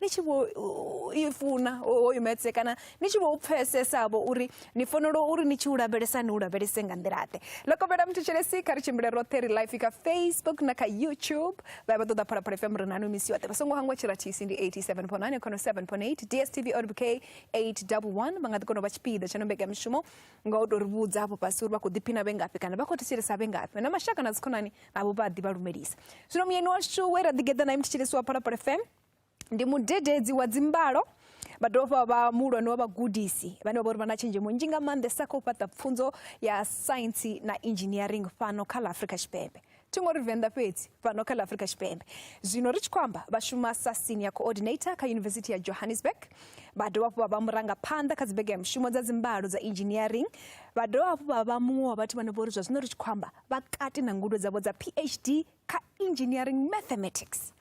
ni tshi vho i funa hoyu metse kana ni tshi vho u pfesesavho uri ni fanela uri ni tshi u lavhelesa ni u lavhelese nga nḓilaḓe lokovhela muthu tshelesi kha ri tshimbile roṱhe ri life kha facebook na kha youtube vha vha ṱoḓa phalaphala fm ri nanu misi yoṱhe vha songo hangwa tshirathisi ndi 87.9 khono 7.8 dstv orbk 811 vha nga ḓi kona u vha tshipiḓa tsha no mbekanyamushumo nga u tou ri vhudza afho fhasi uri vha khou ḓiphina vhe ngafhi kana vha khou thetshelesa vhe ngafhi na mashaka na dzikhonani navho vha ḓi vha lumelisa zwino muyeni washu we ra ḓi geḓa naye mutshitshilisi wa phalaphala fm ndi mudededzi wa dzimbalo vha dovha vha muhulwane wa vhagudisi vhane vha vha uri vha na tshenzhemo nzhi nga maanḓesa kha u fhaṱa pfunzo ya saintsi na engineering fhano kha ḽa afrika tshipembe thi ngo ri venḓa fhedzi fhano kha ḽa afrika tshipembe zwino ri tshi khou amba vha shuma sa senior coordinator kha yunivesithi ya johannesburg vha dovha hafhu vha vha murangaphanḓa kha dzibege ya mushumo dza dzimbalo dza engineering vha dovha hafhu vha vha muṅwe wa vhathu vhane vho ri zwa zwino ri tshi khou amba vha kati na ngudo dzavho dza phd kha engineering mathematics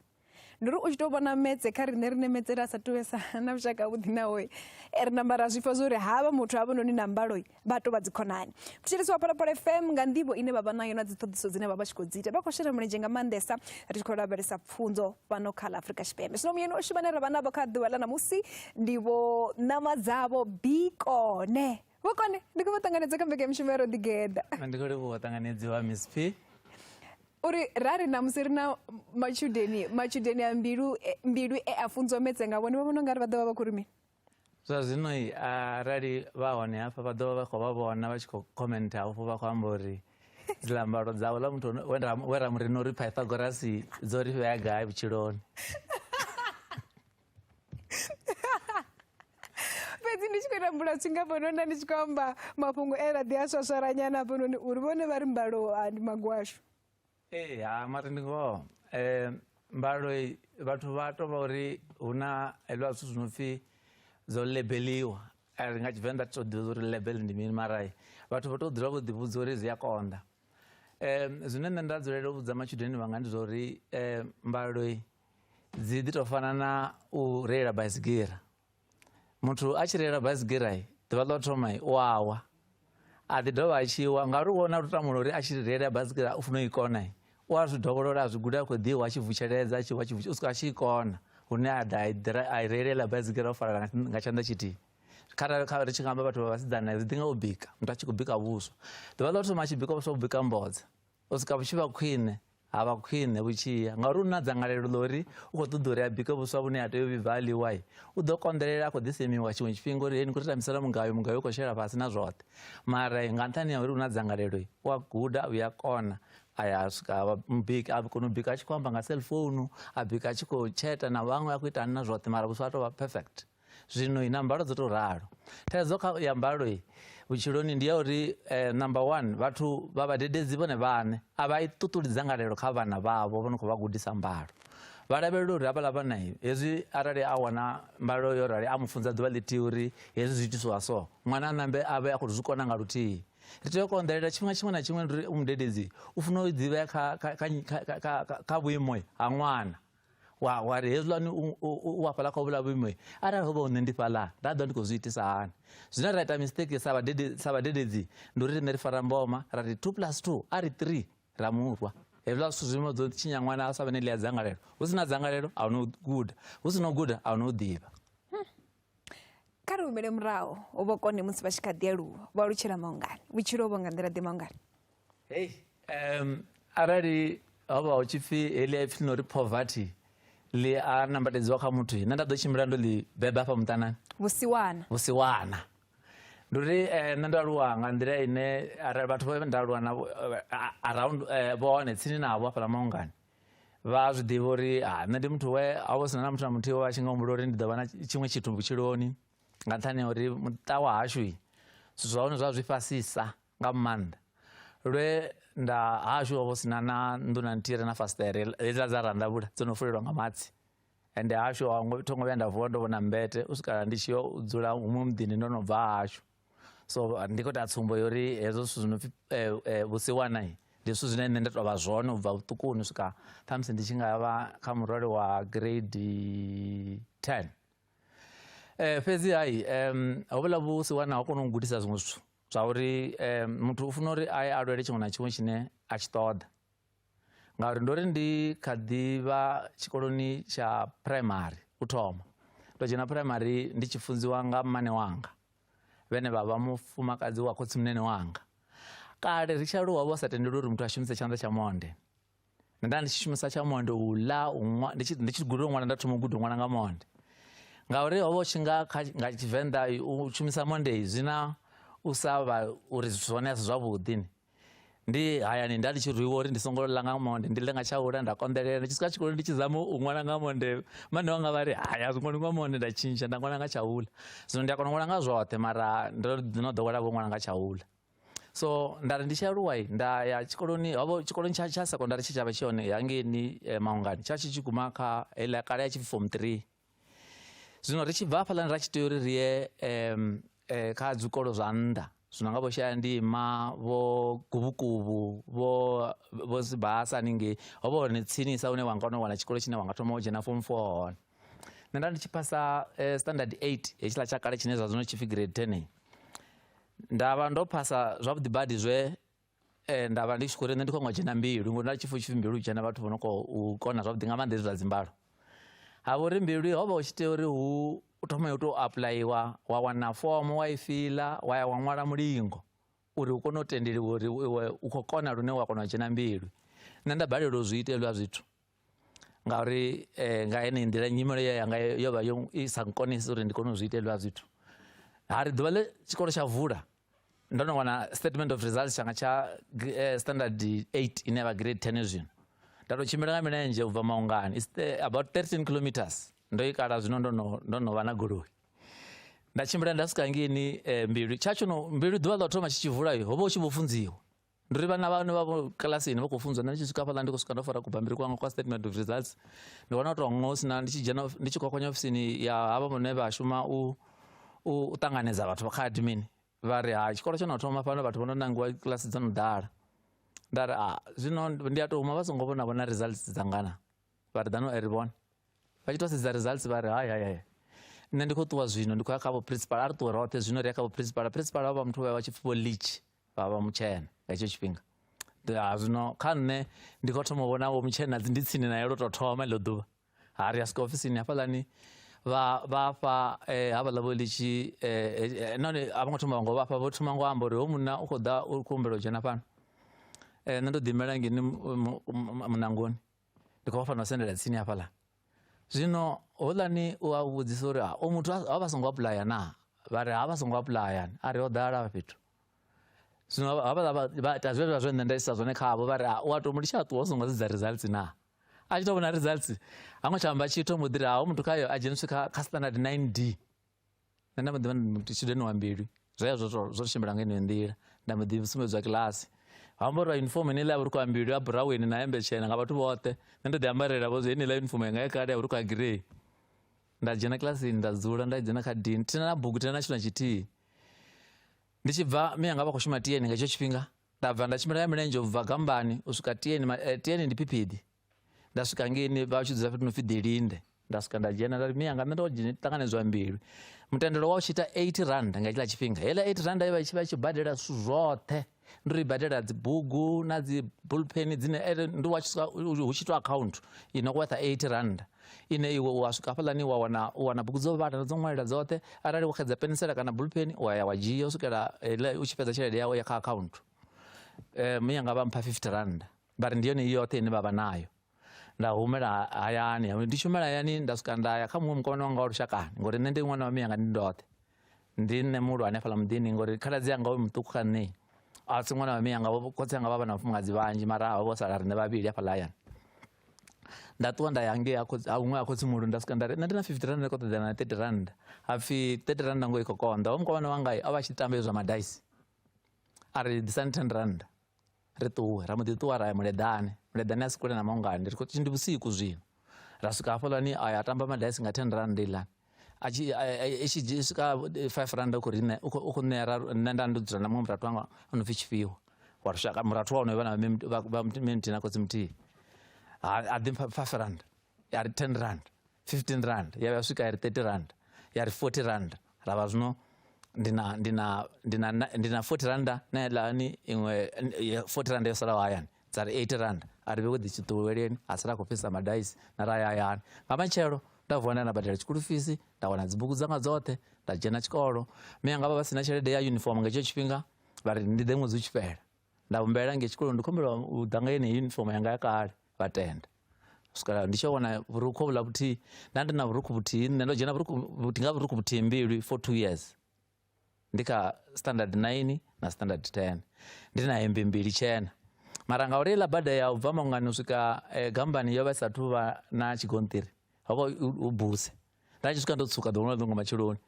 ndi uri u tshi tou vhona metse kha riṋe ri nemetsele a sa tuvesa na vhushaka vhuḓi nawe e eh, ri namba ra zwifha zwo uri havha muthu havha noni na mbalo vha tou vha dzikhonani thetshelesi wa phalaphala fm nga nḓivho ine vha vha nayo na dziṱhoḓiso dzine vha vha tshi khou dzi ita vha khou shela mulenzhe nga maanḓesa ri tshi khou lavhelesa pfunzo fhano kha ḽa afrika tshipembe zwino muyeni oshu vhane ra vha navho kha ḓuvha ḽa ṋamusi ndivho ṋama dzavho bikone vhukoni ndi khou vha ṱanganedza kha mbekanyamushumo ya roḓigeda ndi khou livhuwa ṱanganedzi wa miss p uri ra ri namusi ri na matshudeni matshudeni a mbilu e- mbilu e a funzwa metse nga vhone vha vhona ungari vha ḓo vha vha khou ri mini zwa zwino i arali vha hone hafha vha ḓovha vha khou vha vhona vha tshi khou commenta hafho vha khou amba uri dzilambalo dzawe ḽa muthu we ra- we ra murina uri pythagorasi dzo ri fhea gai vhutshiloni fhedzi ndi tshi khou ita mbulasi nga hafhanoni ndi tshi khou amba mafhungo e laḓi a swaswalanyana hafhanoni uri vhone vha ri mbalo ah, ndi magwashu ee ha mati ndi ngoho um mbalo vhathu vha to vha uri hu na heliwa zwithu zwi no pfhi dzo lebeliwa ri nga tshivenḓa ti to ḓivha uri lebel ndi mini mara vhathu vha to dzula vho ḓivhudza uri zwi a konḓa um zwine nṋe nda dzulela u vhudza matshudeni vhanga ndi zwa uri um mbalo dzi ḓi tou fana na u reila baisigira muthu a tshi reila baisigira ḓuvha ḽo thoma u awa a ḓi dovha a tshi wa ngauri wo na lutamula uri a tshi reila baisigira u funa u i kona u a zwi dovholola a zwi guda a khou ḓiwa a tshi vutsheledza a tshi wa tshi u swika a tshi i kona hune a ḓa a i reilela baisigira o falala nga tshanḓa tshithihi kharali kha ri tshi nga amba vhathu vha vhasidzana ri ḓi nga u bika muthu a tshi khou bika vhuswa ḓuvha ḽo thoma a tshi bika vhuswa u bika mbodza u swika vhutshi vha khwine ha vha khwine vhutshiya ngauri u na dzangalelo ḽa uri u khou ṱoḓa uri a bike vhuswa vhune ha tea u vhibva a ḽiwai u ḓo konḓelela a khou ḓisemiwa tshiṅwe tshifhinga uri hei ni khou ri tambisela mugayo mugayo u khou shela fhasi na zwoṱhe mara nga nṱhani ya uri u na dzangalelo u a guda u ya kona a ya swika a vha mubiki a kona u bika a tshi khou amba nga cellphone a bika a tshi khou tsheta na vhaṅwe a khou ita na zwoṱhe mara vhuswa a tou vha perfect zwino na mbalo dzo tou ralo thaidzo kha ya mbalo vhutshiloni ndi ya uri eh, number one vhathu vha vhadededzi vhone vhane a vha i ṱuṱuli dzangalelo kha vhana vhavho vho no khou vha gudisa mbalo vha lavhelela uri havhaḽa vhana hezwi arali a wana mbalo yo rali a mu funza ḓuvha ḽithihi uri hezwi zwi itiswa so ṅwana a nambe a vhe a khou zwi kona nga luthihi ri tea u konḓelela tshifhinga tshiṅwe na tshiṅwe ri mudededzi u funa u ḓivhea kha vhuimo ha ṅwana wa wa ri hezwiḽani u a fhaḽa kha vhula vhuimo arali ho vha hune ndi fhaḽa nda ḓo ndi khou zwi itisa hani zwine ra ita mistake sa vhadede sa vhadededzi ndi uri riṋe ri fara mboma ra ri 2 plus 2 a ri 3 ra murwa hezwiḽa zwithu zwimo dzo tshinya ṅwana a sa vhe ne ḽi a dzangalelo hu si na dzangalelo a hu no guda hu si no guda a hu no ḓivha kha ri humele muraho u vho kone musi vha tshi kha ḓi aluwa vho alutshela maungani vhutshilo vho nga nḓila ḓe maungani hei um arali ho vha hu tshi pfi heḽi a pfi no ri poverty ḽi a nambatedziwa kha muthu nṋe nda ḓo tshimbila ndo ḽi beba hafha muṱanani vhusiwana vhusiwana ndi uri eh, nṋe ndo aluwa nga nḓila ine arali vhathu vho nda aluwa navho eh, around eh, vhone tsini navho hafhaḽa maungani vha a zwi ḓivha uri ah, nṋe ndi muthu we a vho sina na muthu na muthihi we a tshi nga humbula uri ndi ḓo vha na tshiṅwe tshithu vhutshiloni nga nṱhani uri muṱa wa hashu zwithu zwa hone zwa zwi fhasisa nga maanḓa lwe nda hashu ho vho sina na nnḓu na nthihi re na fasiṱere hedziḽa dza ranḓavhula dzo no fulelwa nga matsi ende hashu thongo vhuya nda vuwa ndo vhona mbete u swikala ndi tshi yo dzula huṅwe muḓini ndo no bva hashu so ah, ndi khou ita tsumbo yo uri hezwo zwithu zwi no pfi eh, eh, vhusiwana ndi zwithu zwine nṋe nda tou vha zwone u bva vhuṱukuni swika ṱhamusi ndi tshi nga vha kha murole wa grade ten um fhedzi hai um hovhuḽa vhusiwana ho kona u gudisa zwiṅwe zwithu zwa uri um muthu u funa uri a ye a lwele tshiṅwe na tshiṅwe tshine a tshi ṱoḓa ngauri ndo ri ndi kha ḓivha tshikoloni tsha primary u thoma ndo dzhena primary ndi tshi funziwa nga mmane wanga vhene vha vha mufumakadzi wa khotsimunene wanga kale ri tshi aluwa vho sa tendeli uri muthu a shumise tshanḓa tsha monde nda nda ndi tshi shumisa tsha monde u ḽa ndi tshi ndi tshi guda u ṅwala nda thoma u guda u ṅwala nga monde ngauri ho vha u tshi nga nga tshivenḓa u shumisa monde zwi na u sa vha uri zwone a si zwavhuḓi ni ndi hayani nda ndi tshi rwiwa uri ndi songo ḽa nga monde ndi ḽe nga tsha ula nda konḓelela ndi tshi swika tshikoloni ndi tshi zama u ṅwala nga monde mane wanga vha ri hai a zwi ṅwali nga monde nda tshintsha nda ṅwala nga tsha ula zwino ndi a kona u ṅwala nga zwoṱhe mara ndo no ḓowela vho ṅwala nga tsha ula so nda ri ndi tshi aluwa nda ya tshikoloni hovho tshikoloni tsha tsha sekondari tshe tsha vha tshi hone hangeni eh, maungani tsha tshi tshi guma kha heiḽa kale ya tshi form three zwino ri tshi bva hafhaḽani ra tshi tea uri ri ye um kha dzikolo zwa nnḓa zwino nga vho shaya ndima vho guvhukubu vho vho sibasa haningei ho vha hone tsinisa hune wa nga kona u wana tshikolo tshine wa nga thoma u dzhena form four hone nṋe nda ndi tshi phasa eh, standard eight hetshiḽa tsha kale tshine zwa zwino tshipfi grade ten nda vha ndo phasa zwavhuḓi badi zwe Eh, nda vha ndi tshi khou ri nṋe ndi khou nga dzhena mbilu ngori nda tshipfhi tshipfi mbilu dzhena vhathu vho no khou kona zwavhuḓi nga maanḓa hezwi zwa dzimbalo ha vha uri mbilu ho vha hu tshi tea uri hu u thoma yo tou apuḽayiwa wa wana fomo wa i fiḽa wa ya wa ṅwala mulingo uri u kone u tendeliwa uri iwe u khou kona lune wa kona u dzhena mbilu nṋe nda balelwa u zwi ita hezwiḽa zwithu ngauri eh, nga ene nḓila nyimelo ye yanga yo vha i sa nkonisi uri ndi kone u zwi itelwa zwithu ha ri ḓuvha ḽe tshikolo tsha vula ndo no wana statement of results tshanga tsha eh, standard 8 ine ya vha grade 10 zwino nda tou tshimbila nga milenzhe u bva maungani is about 13 kilometers ndo i kala zwino ndo no ndo no vha na goloi nda tshimbila nda swika ngeni eh, mbilu tsha tsho no mbilu ḓuvha ḽa u thoma tshi tshi vula ho vha u tshi vho funziwa ndi ri vhana vhane vha kilasini vha khou funzwa ndi tshi swika fhaḽa ndi khou swika ndo fara kubambiri kwanga kwa statement of results ndi wana u tou ngo sina ndi tshi dzhena ndi tshi kwakwanya ofisini ya havha vhane vha shuma u u ṱanganedza vhathu vha kha admin vha ri ha tshikolo tsho no thoma fhano vhathu vho no nangiwa kilasi dzo no ḓala nda ri a zwino ndi a tou huma vha songo vhona vhona results dzangana vha ri ḓano ri vhone vha tshi tou sedza results vha ri hai hai hai nṋe ndi khou ṱuwa zwino ndi khou ya kha vho principal a ri ṱuwe roṱhe zwino ri ya kha vho principal principal vha muthu vha vha tshi pfi vho leach vha vha mutshena nga hetsho tshifhinga ah, zwino kha nṋe ndi khou thoma u vhona vho mutshena dzi ndi tsini naye lwo tou thoma iḽo ḓuvha ha ri a swika ofisini hafhaḽani vha vha fha eh, havhaḽa vho litshi eh, nahone a vho ngo thoma vhango vha fha vho thoma ngo amba uri ho munna u khou ḓa u khou humbela u dzhena fhano nṋe ndo ḓimela ngeni munangoni ndi khou vha fanela u sendela tsini hafhaḽa zwino houḽani u a vhudzisa uri ah, o muthu a vha songo apulaya na vha ri ha vha songo apulaya a ri ho ḓala vha fhethu zwino havhaḽa vha ita zwe zwa zwe nṋe nda isa zwone khavho vha ri ah, u a to mu litsha ṱuwa u songo sedza results na a tshi to vhona results ha ngo tsha amba tshithu mbo ḓi ri ha muthu khayo a dzheniswe kha standard 9 d nṋe nda mbo ḓivha ndi mutshideni wa mbilu zwoya zwo zwo tshimbila nga yeneyo nḓila nda mbo ḓi sumbedzwa kilasi ha amba uri uniform ine iḽa ya vhurukhu ha mbilu ya buraweni na hembe tshena nga vhathu vhoṱhe nṋe ndo ḓi ambarela vho zwi heneiḽa uniform yanga ya kale ya vhurukhu ha girei nda dzhena kilasini nda dzula nda dzhena kha dini thina na bugu thina na tshithu na tshithihi ndi tshi bva mi yanga vha khou shuma tieni nga hetsho tshifhinga nda bva nda tshimbila ya milenzhe u bva gambani u swika tieni eh, tieni ndi phiphiḓi nda swika ngeini vha tshi dzula fhethu no pfi ḓilinde nda swika nda dzhena nda ri mia nga nṋe ndo ṱanganedzwa mbilu mutendelo wa u tshi ita 80 rand nga tshiḽa tshifhinga heiḽa 80 rand ye vha tshi vha tshi badela zwithu zwoṱhe ndo ri badela dzibugu na dzi bullpen dzine ere ndi wa tshisa hu tshi to account ino kwetha 80 rand ine iwe wa swika hafhaḽani wa wana u wana bugu dzo vhala dzo ṅwalela dzoṱhe arali wo xedza pensela kana bullpen wa ya wa dzhia u swikela u tshi fhedza tshelede yawe ya kha account um yanga vha mpha 50 rand vha ri ndi yone i yoṱhe ine vha vha nayo nda humela hayani ndi shumela hayani nda swika nda ya kha muṅwe mukomana wanga wa lushakani ngori nṋe ndi ṅwana wa miyanga ndi ndoṱhe ndi nṋe muhulu hanefhala muḓini ngori khaladzi yanga we muṱuku kha nṋe a si ṅwana wa miyanga khotsi yanga vha vha na vhafumakadzi vhanzhi mara vho sala riṋe vhavhili hafhaḽa hayani nda ṱuwa nda ya ngei huṅwe a khotsi muhulu nda swika nda ri nṋe ndi na fifty rand ndi khou ṱoḓea na thirty rand hapfi thirty rand ngo i khou konḓa wa mukomana wanga o vha tshi tamba zwa madaisi a ri ḓisani ten rand ri ṱuwe ra mbo ḓi ṱuwa ra ya muleḓane muleḓane a si kule na maungani ri khou tshi ndi vhusiku zwino ra swika hafhaḽani a ya tamba madaisi nga ten rand iḽani itshi dzhia swika five rand u khou ri u khou ṋea ra nṋe nda ndo dzula na muṅwe murathu wanga o no pfi tshifhiwa wa lushaka murathu wa hone vha na vha muthihi na khotsi muthihi a ḓi mpha five rand ya ri 10 rand 15 rand ya vha swika ya ri 30 rand ya ri 40 rand ra vha zwino ndi na ndi na ndi na ndi na 40 rand na lani iṅwe 40 rand yo salaho hayani dza ri 80 rand a ri vhe wo ḓi tshiṱuweleni a sala khou fhisa madaisi na ra ya hayani nga matshelo nda vuwa nda na badela tshikulu fisi nda wana dzibugu dzanga dzoṱhe nda dzhena tshikolo mme anga vha vha si na tshelede ya uniform nga hetsho tshifhinga vha ri ndi ḓe ṅwedzi u tshi fhela nda humbela nge tshikoloni ndi khombela u ḓa nga yeneyi uniform yanga ya kale vha tenda swikela ndi tshi wana vhurukhu vhula vhuthihi nda ndi na vhurukhu vhuthihi nṋe ndo dzhena vhurukhu vhuthihi nga vhurukhu vhuthihi mbilu for two years ndi kha standard nine na standard ten ndi na hembe mbili tshena mara nga uri iḽa bada ya u bva mangani u swika eh, gambani yo vha isathu vha na tshigonṱiri ho vha u buse nda tshi swika ndo tsuka ḓuvha ḽa ḓungo matsheloni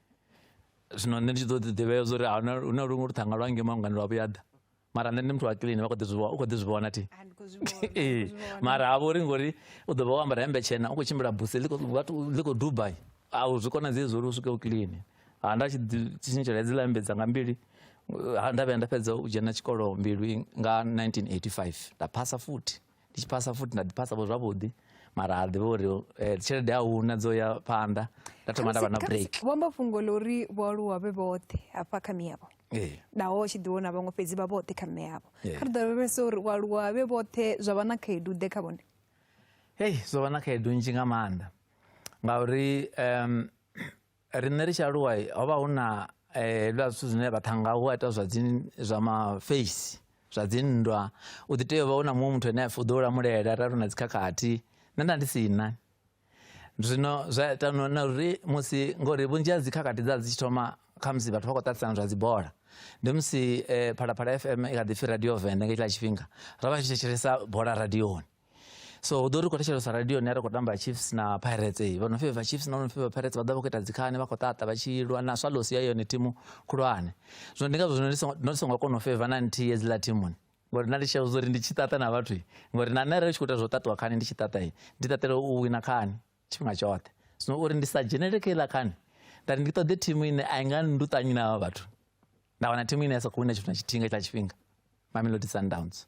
zwino nṋe ndi tshi ḓo ḓi ḓivhea zwa uri huna luṅwe luṱhanga lwa nge mangani lwa vhuya ḓa mara nṋe ndi muthu wa clean vha kho ḓi zwi u kho ḓi zwi vhona thi ee mara havho uri ngori u ḓo vha wo ambara hembe tshena u khou tshimbila buse ḽi khou dubai a zwi konadzei zwo uri u swike u clean ha nda tshi tshintshela hedziḽa hembe dzanga mbili nda vhuya nda fhedza u dzhena tshikolo mbilwi nga 1985 nda phasa futhi ndi tshi phasa futhi nda ḓi phasa vho zwavhuḓi mara ha ḓivha uri eh, tshelede a huna dzo ya phanḓa nda thoma nda vha na break vhamba fhungo ḽa uri vhoaluwa vhe vhoṱhe hafha kha miyavho eh. naho tshi ḓiwo na vhaṅwe fhedzi vha vhoṱhe kha mme yavho eh. kha ri ḓolavhelesa uri vhoaluwa vhe vhoṱhe zwa vha na khaedu ḓe kha vhone hei zwo vha na khaedu nzhi nga maanḓa ngauri um ri nṋe ri tshi aluwa ho vha hu na eh, hezwiḽa zwithu zwine vha thanga hu a ita zwa dzi zwa maface zwa dzinndwa u ḓi tea u vha u na muṅwe muthu ane a pfi u ḓo u lamulela ralo na dzikhakhathi nṋe nda ndi si na zwino zwa ita no- na uri musi ngori vhunzhi ha dzikhakhathi dza dzi tshi thoma khamusi vhathu vha khou ṱaṱisana zwa dzibola ndi musi eh, phalaphala fm i kha ḓi pfi radio venda nga itshiḽa tshifhinga ra vha tshi thetshelesa bola radioni so ḓo ri khou thetshelesa radio ni a ri khou tamba chiefs na pirates ee vha no feva chiefs na no feva pirates vha ḓa vha khou ita dzikhani vha khou ṱaṱa vha tshi lwa na swallows ya yone thimu khulwane zwino ndi ngazwo zwino no songo kona u feva na nthihi hedziḽa thimuni ngori na ndi tshia uri ndi tshi ṱaṱa na vhathu ngori na nṋe arali tshi khou ita zwo ṱaṱiwa khani ndi tshi ṱaṱa ndi ṱaṱela u wina khani tshifhinga tshoṱhe zwino uri ndi sa dzhenele kha iḽa khani nda ri ndi ṱoḓe thimu ine a i nga nduṱanyi na vha vhathu nda wana thimu ine ya sa khou wina tshithu na tshithinga tsha tshifhinga mamelodi sundowns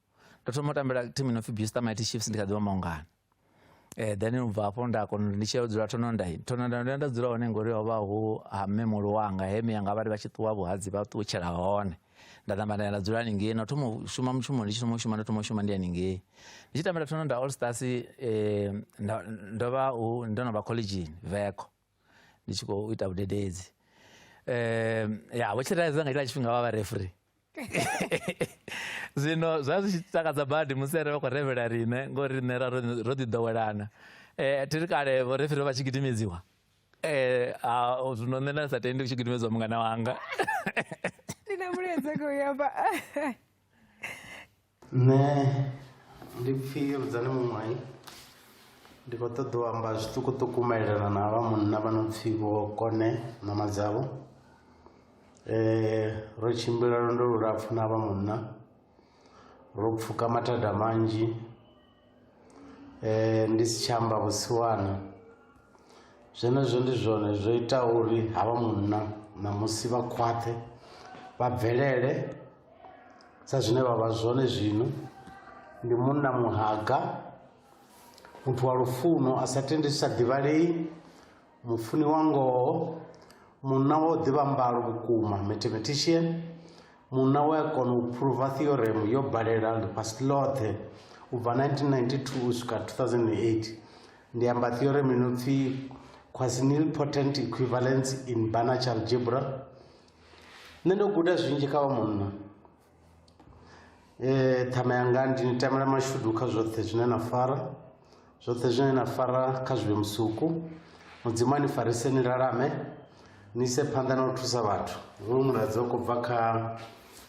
ndo thoma u tambela team ino pfi Buster Mighty Chiefs ndi kha ḓivha maungana eh then u bva afho nda kona ndi tshi ya u dzula thonondai thonondai nda nda dzula hone ngori ho vha hu ha mme muhulu wanga he mme yanga vha ri vha tshi ṱuwa vhuhadzi vha ṱutshela hone nda namba nda ya nda dzula haningei na u thoma u shuma mushumo ndi tshi thoma u shuma nda thoma u shuma ndi haningei ndi tshi tambela thononda all stars eh, nda- ndo vha u- ndo no vha collegeini veko ndi tshi khou ita vhudededzi um ya vho tshiredzo nga tshila tshifhinga vha vha refri zwino zwa zwi tshi takadza badi musi ere vha khou revhela rine ngori rine ra ro ḓi ḓowelana um eh, thiri kale vho refri vha tshi gidimedziwa eh, um zwino nṋe nda sa tendi u tshi gidimedziwa mungana wanga ndi na muledzeko yaba nṋe ndi pfhi rudzani muṅwayi ndi khou ṱoḓa u amba zwiṱukuṱuku maelana na vha munna vha no pfhi vho kone mama dzavho um ro tshimbila lwendo lulapfhu na vha munna ro pfhuka mathada manzhi eh, ndi si tsha amba vhusiwana zwenezwo ndi zwone zwo ita uri havha munna ṋamusi vha khwaṱhe vha bvelele sa zwine vha vha zwone zwino ndi munna muhaga muthu wa lufuno a sa tendi zwi sa ḓivhalei mufuni wa ngoho munna wa u ḓivha mbalo vhukuma mathematician munna we a kona u phuruva theorem yo balela ḽifhasi ḽoṱhe u bva 1992 u swika 2008 ndi amba theorem ino pfi quasinil potent equivalence in banach algebra nṋe ndo guda zwinzhi kha vha munna Ee, ṱhama yanga ndi ni tamela mashudu kha zwoṱhe zwine na fara zwoṱhe zwine na fara kha zwi vhe musuku mudzimu a ni farise ni lalame ni ise phanḓa na u thusa vhathu hoyu muladzo u khou bva kha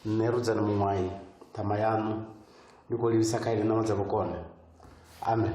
nṋe rudzani muṅwayi ṱhama yaṋu ndi khou livhisa kha ine na ṋawa dza vhukone amen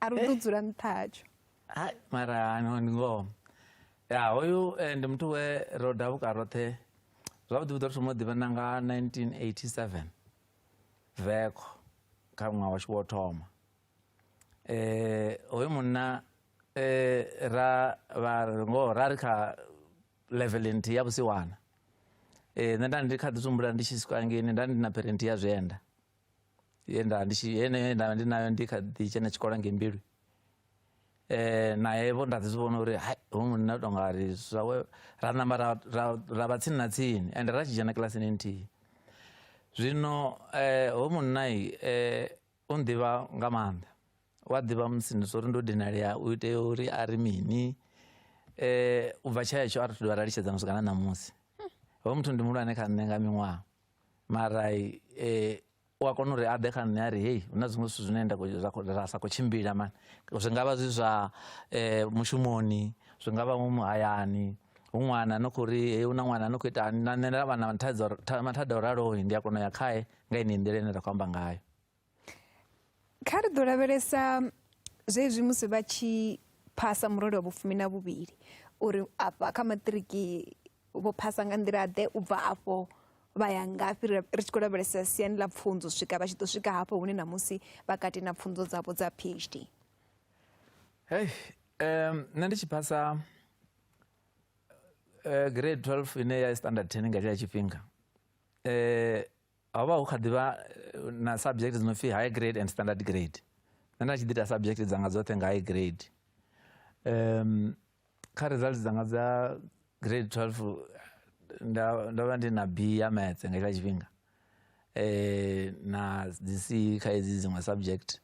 a ri u ḓo dzula nṱha hatsho hai mara no ndi ngoho ya hoyu eh, ndi muthu we ro davuka roṱhe zwavhuḓi vhuḓi ro thoma u ḓivhana nga 1987 veko kha ṅwaha washu wo thoma eh hoyu munna eh ra vha ngoho ra ri kha level nthihi ya vhusiwana eh nṋe nda ndi kha ḓi tumbula ndi tshi swika ngeni nda ndi na parent ya zwienda ye nda ndi tshi yeneyo ye nda ndi nayo ndi kha ḓi tshena tshikolo ngei mbilu eh naye vho nda ḓi zwi vhona uri hai hoyu munna u tou nga ri zwawe ra namba ra ra- ra vha tsini na tsini ende ra tshi dzhena kilasini nthihi zwino eh hoyu munna i, eh u nḓivha nga maanḓa wa ḓivha musi ndi uri ndo dinalea u itea uri a ri mini eh u bva tsha hetsho a ri thu dovha ra litshedzana swika na ṋamusi hoyu muthu ndi muhulwane kha nṋe nga miṅwaha mara eh, u a kona uri a ḓe kha nṋe a ri hei hu na zwiṅwe zwithu zwine nda ra sa khou tshimbila mani zwi nga vha zwi zwa eh, mushumoni zwi nga vha mu muhayani hu ṅwana no khou ri hei hu na ṅwana no khou ita na nṋe nda vha na mathada o ralohi ndi a kona u ya khae nga ine nḓila ine ra khou amba ngayo kha ri ḓo lavhelesa zwezwi musi vha tshi phasa murole wa vhufumi na vhuvhili uri afha kha maṱiriki vho phasa nga nḓila ḓe u bva afho vha ya ngafhi ri tshi khou lavhelesa siani ḽa pfunzo u swika vha tshi ḓo swika hafho hune na musi vha kati na pfunzo dzavho dza phd hey um nṋe ndi tshi phasa uh, grade 12 ine ya standard 10 nga tshila tshifhinga um ho vha hu kha ḓivha eh, na subject dzi no pfi high grade and standard grade nṋe nda tshi ḓi ita subject dzanga dzoṱhe nga high grade um kha results dzanga dza grade 12 nda ndo vha ndi na b ya maths nga itsha tshifhinga eh na dzi c kha hedzi dziṅwe subject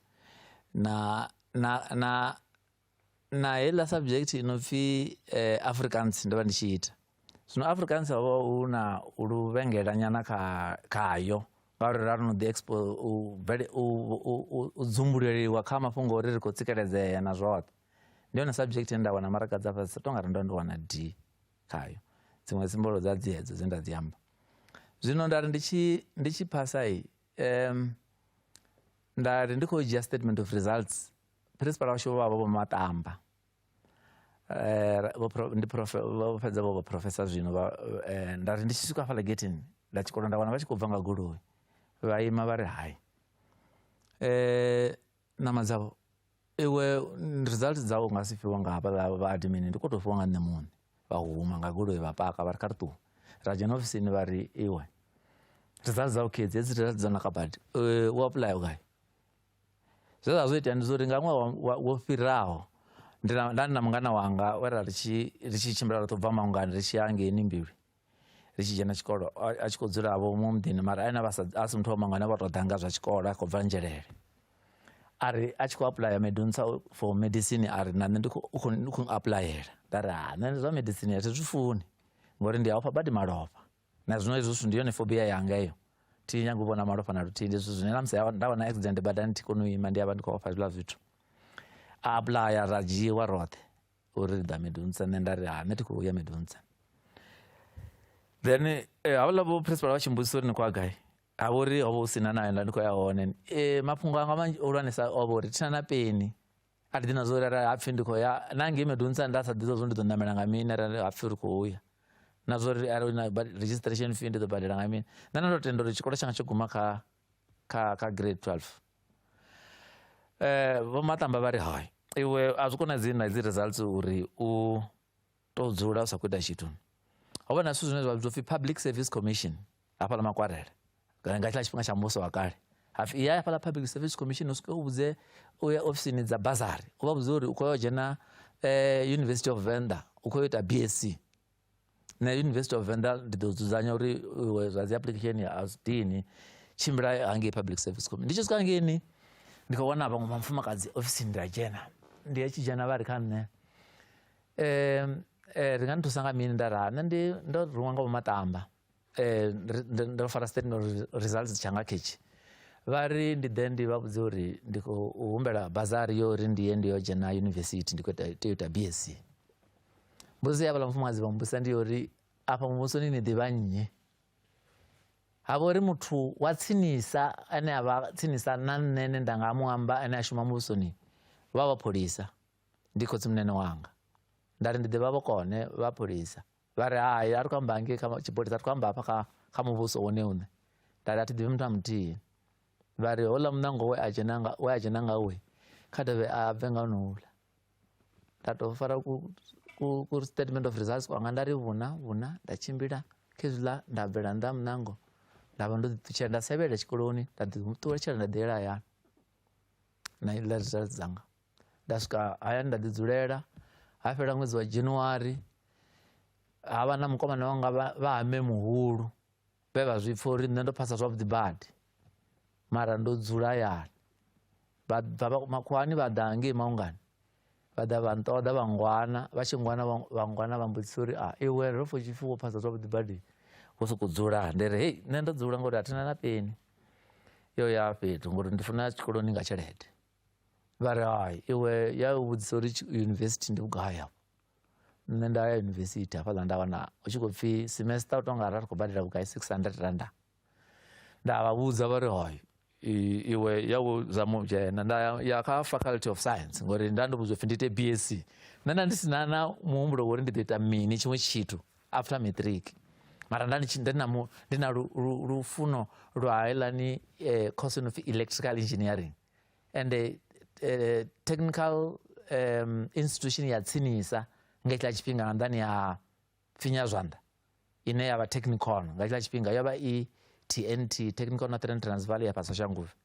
na na na na heiḽa subject i no pfi eh, africans ndo vha ndi tshi ita zwino africans ho vha hu na luvhengelanyana kha khayo ngauri ra no ḓi expo u, bvele- u, u, u, u dzumbuleliwa kha mafhungo ori ri khou tsikeledzea na zwoṱhe ndi yone subject ye nda wana maraga dza fhasi tonga ri ndo ndi wana d khayo dziṅwe dzimbolo dza dzi hedzo dze nda dzi amba zwino nda ri ndi tshi ndi tshi phasa i um, nda ri ndi khou dzhia statement of results phirinsipala washu vho vha vho maṱamba eh, ndi vho fhedza vho vhaprofesa zwino eh, nda ri ndi tshi swika hafhaḽa getini nda tshikolo nda wana vha tshi khou bva nga goloi vha ima vha ri hai um ṋama dzavho iwe result dzau nga si fhiwa nga hafhaḽa vha admin ndi kho tou fhiwa nga nṋe muṋe vha huma nga goloi vha paka vha ri kha ri ṱuwe ra dzhena ofisini vha ri iwe result dzau kidzi hedzi result dza naka badi u apuḽaya gai Zwe zwa zwi itea ndi zwa uri nga ṅwaha wa- wo fhiraho ndi na- nda ndi na mungana wanga we ra ri tshi ri tshi tshimbila ro to bva maungani ri tshi ya ngeini mbilwi ri tshi dzhena tshikolo a a tshi khou dzula vho mu muḓini mara ene vha sa a si muthu wa maungani vha to ḓa nga zwa tshikolo a khou bva nzhelele a ri a tshi khou apuḽaya medunsa for medicine a ri na nṋe ndi khou- u khou ndi khou apuḽayela nda ri ha nṋe zwa medicine a thi zwi funi ngori ndi a ofha badi malofha na zwino hezwi zwithu ndi yone fobia yanga iyo thi nyanga u vhona malofha na luthihi ndi zwithu zwine na musi nda vha na accident badani thi koni u ima ndi avha ndi khou ofha zwiḽa zwithu a apuḽaya ra dzhiiwa roṱhe uri ri ḓa midunsa nṋe nda ri ha nṋe thi khou ya midunsa then eh, havhaḽa vho principal vha tshi mbudzisa uri ni khou a gai ha vha uri ho vha hu sina nayo nda ndi khou ya hone e, mafhungo anga manzhi hulwanesa o vha uri thina na peni a thi ḓi na zwo uri arali hapfhi ndi khou ya na ngei medonisa nda sa ḓivha zwo ndi ḓo namela nga mini arali hapfhi ri khou ya na zwa uri arali na registration fee ndi ḓo badela nga mini nṋe na ndo tenda uri tshikolo tshanga tsho guma kha kha kha grade 12 eh vho matamba vha ri hai iwe a zwi konadzei na dzi results uri u to dzula u sa khou ita tshithu ho vha na zwithu zwine zwa vhidzwa upfhi public service commission hafha ḽa makwarela kana nga tshiḽa tshifhinga tsha muvhuso wa kale hapfi iya hafha ḽa public service commission u swike u vhudze u ya ofisini dza bazari u vha vhudze uri u khou ya u dzhena eh, university of venda u khou ita bsc na university of venda ndi ḓo dzudzanya uri iwe zwa dzi application ya asdini tshimbila hangei public service commission ndi tshi swika hangeini ndi khou wana vhaṅwe vha mufumakadzi ofisini ndi a dzhena ndi ya tshi dzhena vha ri kha nṋe eh, eh, ri nga ni thusa nga mini nda ra nṋe ndi ndo ruṅwa nga vhomatamba eh, ndo fara state no results tshanga khetshi vha ri ndi ḓe ndi vha vhudze uri ndi khou humbela bazari yo uri ndi ye ndi yo dzhena yunivesithi ndi khou tea u ita bsc mbudziso ya vhala mufumakadzi vha mbudzisa ndi yo uri afha muvhusoni ni ḓivha nnyi ha vha uri muthu wa tsinisa ane a vha tsinisa na nṋe ne nda nga mu amba ane a shuma muvhusoni vha vha pholisa ndi khotsimunene wanga nda ri ndi ḓivha vhokone vha pholisa vha ri hai a ri khou amba ngei kha tshipholisa a ri khou amba hafha kha kha muvhuso wone une nda ri a thi ḓivhi muthu a muthihi vha ri houḽa muṋango we a dzhena nga we a dzhena nga we kha dovhe a bve nga honouḽa nda tou fara ku ku statement of results kwanga nda ri vhuna vhuna nda tshimbila khezwiḽa nda bvela nnḓa muṋango nda vha ndo ḓiṱutshela nda sevhelela tshikoloni nda ḓiṱuwetshela nda ḓiyela hayani na iḽa results dzanga nda swika haya nda ḓi dzulela ha fhela ṅwedzi wa January ha vha na mukomana wanga vha hame muhulu vhe vha zwi pfha uri nṋe ndo phasa zwavhuḓi badi mara ndo dzula hayani vha bva makhuwani vha ḓa ngei maungani vha ḓa vha nṱoḓa vha ngwana vha tshi ngwana vha ngwana vha mbudzisa uri a iwe ro pfha tshipfi wo phasa zwavhuḓi badi wo sokou dzula ndi ri hei nṋe ndo dzula ngori a thina na peni yo ya fhethu ngori ndi funa tshikoloni nga tshelede vha ri hai iwe ya vhudzisa uri yunivesithi ndi vhugai afho nṋe nda ya yunivesithi hafhaḽa nda wana u tshi khou pfhi semester u tonga ara ri khou badela vhugai 600 randa nda vha vhudza vha ri hai iwe ya u zama u dzhena nda ya kha faculty of science ngori nda ndi vhudzwa pfhi ndi ite bsc nṋe nda ndi si na na muhumbulo wori ndi ḓo ita mini tshiṅwe tshithu after matric mara nda nditshi ndi na mu ndi na lu- lu- lufuno lwa helani eh, course no pfi electrical engineering and eh, eh, technical um, institution ya tsinisa nga tshila tshifhinga nga nḓani ya finya zwanḓa ine ya vha technicon nga tshila tshifhinga yo vha i tnt technical northern transvaal ya fhasi shanguvhe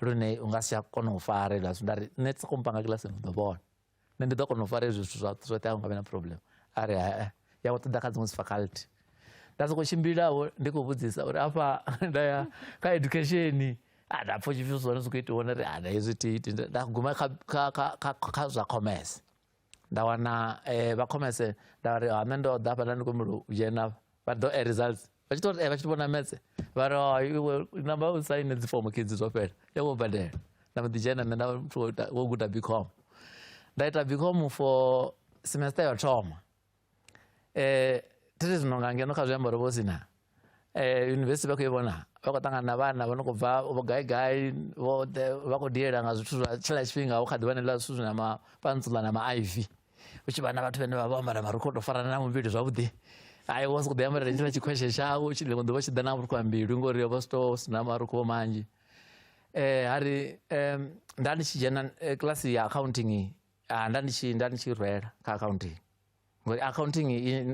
lune u nga si tsha kona u fara hezwiḽa zwithu nda ri nṋe soko mpanga kilasini u ḓo vhona nṋe ndi ḓo kona u fara hezwi zwithu zwoṱhe zwoṱhe a u nga vhe na problem a ri hae ya vho ṱoḓa kha dziṅwe dzi faculty nda sokou tshimbilavo ndi khou vhudzisa uri afha nda ya kha education a nda pfha tshipfi zwone zwi khou itiwa nda ri a nda hezwi tiiti nda guma kha zwa commerce nda wana eh, vha khomese nda ri ha ah, nṋe ndo ḓa hafha nda ndi khou mulu dzhena vha ḓo a eh, results vha tshi to eh, vha tshi vhona metse vha ri oh, iwe namba u saine dzi fomo kidzi zwo fhela ya wo badela nda mbo ḓi dzhena nṋe nda wo guda bicom nda ita bicom for semester yo thoma eh, tiri zinonga ngeno kha zwiambaro ro vhosina eh, yunivhesiti vha khou i vhona vha khou ṱangana na vhana vho no khou bva vho gaigai vhoṱhe vha khou diela nga zwithu zwa tshila tshifhinga hu kha ḓi vhanelela zwithu zwina mapantsula na maiv u tshi vha na vhathu vhane vha vho ambara marukho to farana na muvhili zwavhuḓi ai wa sokou ḓi ambarela tshila tshikhweshe tshau u tshi ḽiṅwe ḓuvha tshi ḓa na vhurukhu ha mbilu ngori yo vha sito sina marukho manzhi um ha ri um nda ndi tshi dzhena eh, kilasi ya accounting ah, nda ndi tshi nda ndi tshi rwela kha accounting ngori accounting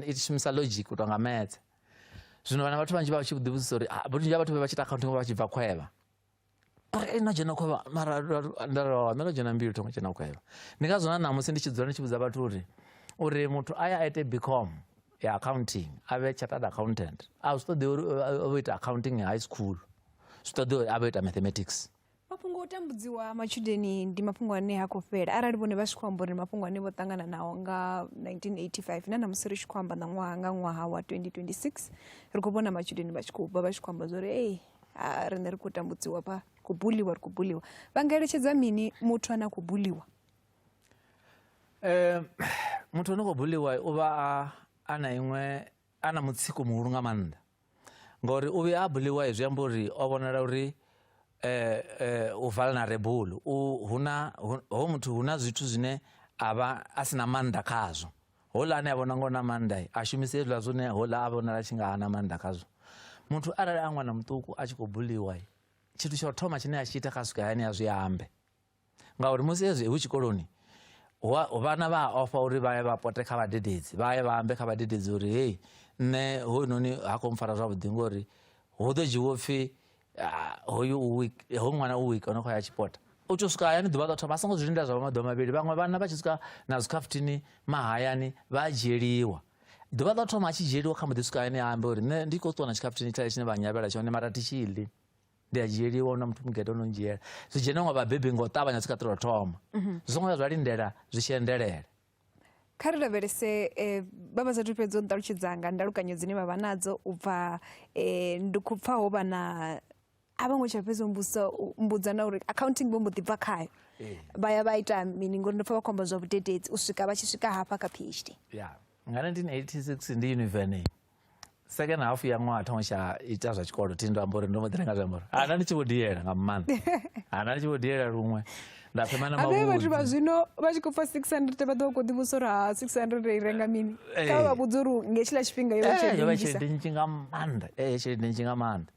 i shumisa logic u tonga maths zwino vhana vhathu vhanzhi vha tshi vhudzisa uri ah, vhunzhi ha vhathu vhe vha tshi ita accounting vha tshi bva khwevha uri ei no dzhena khwevha mara nda rowa nṋe no dzhena mbili thongo dzhena khwevha ndi nga zwona ṋamusi ndi tshi dzula ndi tshi vhudza vhathu uri uri muthu a ya a ite bcom ya accounting a vhe chartered accountant a zwi ṱoḓi uri a vho ita accounting high school zwi ṱoḓi uri a vho ita mathematics mafhungo o tambudziwa ha matshudeni ndi mafhungo ane ha khou fhela arali vhone vha tshi khou amba uri mafhungo ane vho ṱangana nao nga 1985 na namusi ri tshi khou amba na ṅwaha nga ṅwaha wa 2026 ri khou vhona matshudeni vha tshi khou bva vha tshi khou amba zwori ei riṋe ri khou tambudziwa vha khou buliwa ri khou buliwa vha nga eletshedza mini muthu ane a khou buliwa um muthu ane khou buliwa u vha a na iṅwe a na mutsiko muhulu nga maanḓa ngori u vhuya a buliwa zwi amba uri o vhonala uri eh, eh, u vulnerable u huna ho muthu huna zwithu zwine a vha a si na maanḓa khazwo hola ane a vhona ngo na maanḓa a shumise hezwiḽa zwine hola a vhonala tshi nga ha na maanḓa khazwo muthu arali a ṅwana muṱuku a tshi khou buliwa tshithu tsha u thoma tshine a tshi ita kha swika hayani a zwi ambe ngauri musi hezwi hu tshikoloni vhana vha a ofha uri vha ye vha pote kha vhadededzi vha ye vha ambe kha vhadededzi uri hei nṋe hoyunoni ha khou mpfara zwavhuḓi ngori hu ḓo dzhiwo pfhi ah, hoyu ho ṅwana u wiki ono khou ya tshipota u tou swika hayani ḓuvha ḽo thoma a songo zwi linda zwa vha maḓuvha mavhili vhaṅwe vhana vha tshi swika na zwikhafutini mahayani vha a dzhieliwa ḓuvha ḽo thoma a tshi dzhieliwa kha mboḓi swika hayani a ambe uri nṋe ndi khou ṱuwa na tshikhafuthini tshale tshine vha nyavhela tshone mara thi tshi ḽi ndi a dzhieliwa na muthu mugede ono ndzhiela zwi dzhena nga vhabebi nga u ṱavhanya zwi kha ṱelo thoma mhm. zwi songo ya zwa lindela zwi tshi endelela kha ri lavhelese um vha vha sathu fhedza u ṱalutshedzanga ndalukanyo dzine vha vha nadzo u bva um ndi khou pfa ho vha na a vho ngo tsha fhedza mbusa mbudza na uri accounting vho mbo ḓi bva khayo eh. vha ya vha ita mini ngori ndo pfa vha khou amba zwa vhudededzi u swika vha tshi swika hafha kha phd ya nga 1986 ndi univene second half ya ṅwaha thoma tsha ita zwa tshikolo thi ndo amba uri ndo mbo ḓi nga zwi amba uri ana ndi tshi vho diela nga maanḓa ana ndi tshi vho diela luṅwe nda thoma na mavhudzi vhathu vha zwino vha tshi khou pfa 600 vha ḓo khou ḓi vhusa uri ha 600 i renga mini kha vha vha vhudza uri nge tshila tshifhinga yo vha tshelede nnzhi nga maanḓa ee tshelede nnzhi nga maanḓa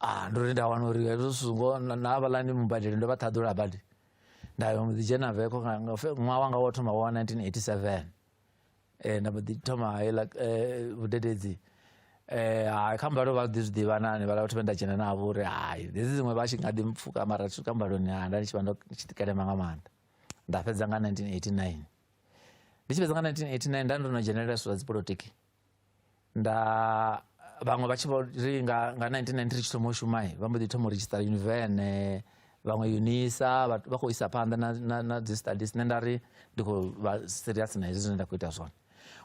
ah ndo ri nda wana uri hezwo zwithu ngoho na na havhaḽani mubadeli ndo vha ṱhaḓula badi nda yo mbo ḓi dzhena veko nga- nga fe- ṅwaha wanga wa thoma wa wa 1987 eh, nda mbo ḓi thoma heiḽa eh, vhudededzi eh, hai kha mbalo vha ḓi zwi ḓivha na hanevhala vhathu vhe nda dzhena navho uri hai hedzi dziṅwe vha tshi nga ḓi mpfuka mara thi swika mbaloni ha nda ndi tshi vha ndo ndi tshi ḓikelema nga maanḓa nda fhedza nga 1989 ndi tshi fhedza nga 1989 nda ndo no dzhenelela zwithu zwa dzipolotiki nda vhaṅwe vha tshi vho ri nga nga 1993 tshi thoma u shuma vha mbo ḓi thoma u register univene vhaṅwe unisa vha khou isa phanḓa na, na, na dzi studies nṋe nda ri ndi khou vha serious na hezwi zwine nda khou ita zwone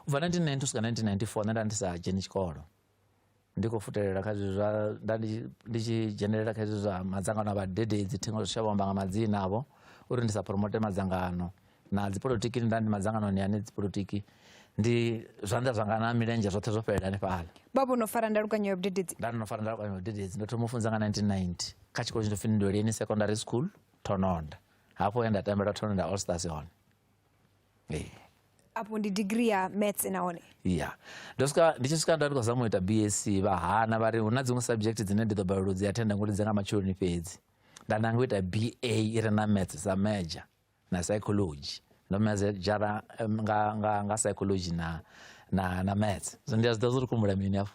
u bva 1992 swika 1994 nṋe nda ndi sa dzheni tshikolo ndi khou futelela kha zwithu zwa nda ndi tshi dzhenelela kha zwithu zwa madzangano a vhadededzi thingo zwi shavha amba nga madzina avho uri ndi sa promote madzangano na dzipolitiki nda ndi madzangano ni ane dzipolitiki ndi zwanḓa zwanga na milenzhe zwoṱhe zwo fhelela hanefhala baba no fara ndalukanyo ya vhudededzi nda no fara ndalukanyo ya vhudededzi ndo thoma u funza nga 1990 kha tshikolo tshi ndo fhinduleleni secondary school thononda hafho ya nda tambela thononda all stars hone Hey. apo ndi degree ya maths nahone ya ndo swika ndi tshi swika nda ndi khou zama u ita bsc vha hana vha ri hu na dziṅwe subject dzine ndi ḓo balelwa u dzi attenda ngori dzi nga matshuloni fhedzi nda nanga u ita ba i re na maths sa major na psychology ndo mejara em, nga, nga, nga psychology na, na, na maths so ndi a zwi ḓivha zwo ri kumbula mini afho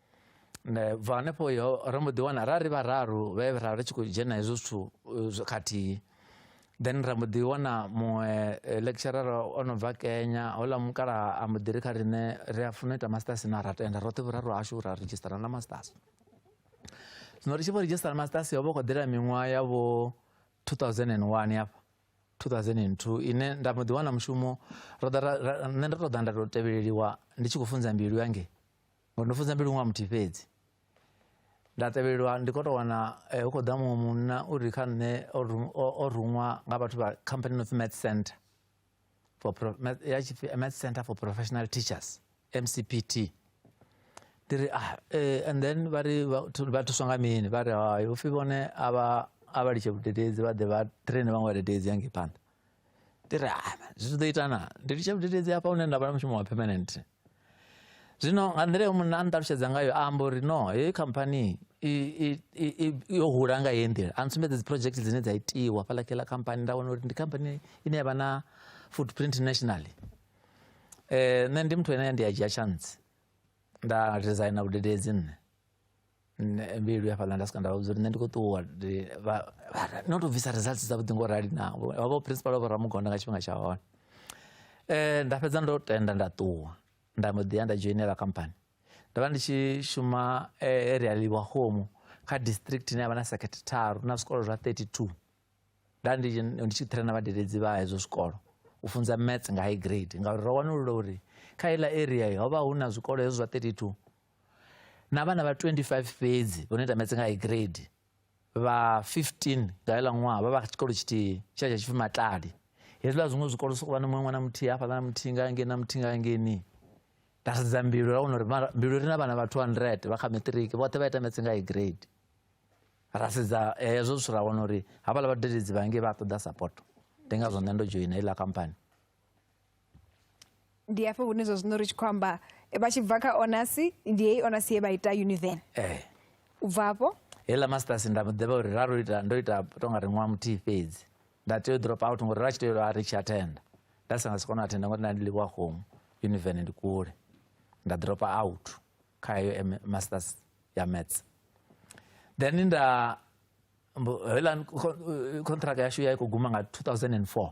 bva hanefho ro mbo ḓi wana ra ri vhararu vhe ra ri tshi khou dzhena hezwo zwithu eh, khathihi then ra mbo ḓi wana muṅwe eh, lecturer o no bva kenya houḽa mukala a mbo ḓi ri kha riṋe ri a funa u ita masters na ra tenda roṱhe vhuraru hashu ra redzhisitara na masters zwino ri tshi vho redzhisitara masters ho vha khou ḓela miṅwaha ya vho 2001 hafha 2002 ine nda mbo ḓi wana mushumo nṋe ndo tou ḓa nda tou tevheleliwa ndi tshi khou funza mbilu yange ngo ndo fudza mbilu ṅwa muthihi fhedzi nda tevhelelwa ndi khou tou wana eh, hu khou ḓa muṅwe munna u ri kha nṋe o ruṅwa nga vhathu vha company no pfi math center for ya tshipfi eh, math center for professional teachers mcpt ndi ri ah eh, and then vha ri vha thuswa nga mini vha ri hayi upfhi vhone a vha a vha litshe vhudededzi vha ḓe vha traine vhaṅwe vhadededzi ya ngei phanḓa ndi ri ah, zwithu ḓo ita na ndi litshe vhudededzi hafha hune nda vha na mushumo wa permanent zwino nga nḓila yo munna a nṱalutshedza ngayo a amba uri no heyi khamphani yo hula nga heyi nḓila a ntsumbedza dzi project dzine dza itiwa fhaḽa kheḽa khamphani nda wana uri ndi khamphani ine ya vha na footprint nationally um nṋe ndi muthu ene ndi a dzhia chance nda resigna vhudededzi nṋe nṋe mbilu ya fhaḽa nda swika nda vha vhudza uri nṋe ndi khou ṱuwa no tou bvisa results dzavhuḓi ngo rali na vhavho principal vha vho ramugonda nga tshifhinga tsha hone um nda fhedza ndo tenda nda ṱuwa nda mbo ḓi ya nda dzhoinela company ndo vha ndi tshi shuma eh, area liwa home kha district ine ya vha na circuit tharu na zwikolo zwa 32 nda ndi tshi traina vhadeledzi vha hezwo zwikolo u funza maths nga high grade ngauri ro wanulula uri kha iḽa area ho vha hu na zwikolo hezwo zwa 32 na vhana vha 25 fhedzi vho no ita metse nga high grade vha 15 nga heḽa ṅwaha vha vha tshikolo tshithihi tsha tsha tshipfi matlali hezwiḽa zwiṅwe zwikolo sokou vha na muṅwe ṅwana muthihi hafhaḽa na muthihi nga ngei na muthihi nga ngeni nda sedza mbilu ra wana uri mbilu ri na vhana vha 200 vha kha matric vhoṱhe vha ita metse nga high grade ra sedza eh, hezwo zwithu ra wana uri hafhaḽa vhadededzi vha ngei vha ṱoḓa support ndi ngazwo nṋe ndo dzhoina iḽa kampani ndi hafho hune zwa zwino ri tshi khou amba eh, vha tshi bva kha onasi ndi heyi onasi ye vha ita univen eh. u bva hafho heiḽa masters nda ḓivha uri ra ro ita ndo ita tonga ri ṅwaha muthihi fhedzi nda tea u drop out ngori ra tshi tea uri tshi attenda nda sa nga si kona u attenda ngori nda ndi ḽiwa home univen ndi kule nda drop out kha heyo masters ya maths then nda heiḽa contract yashu ya i khou guma nga 2004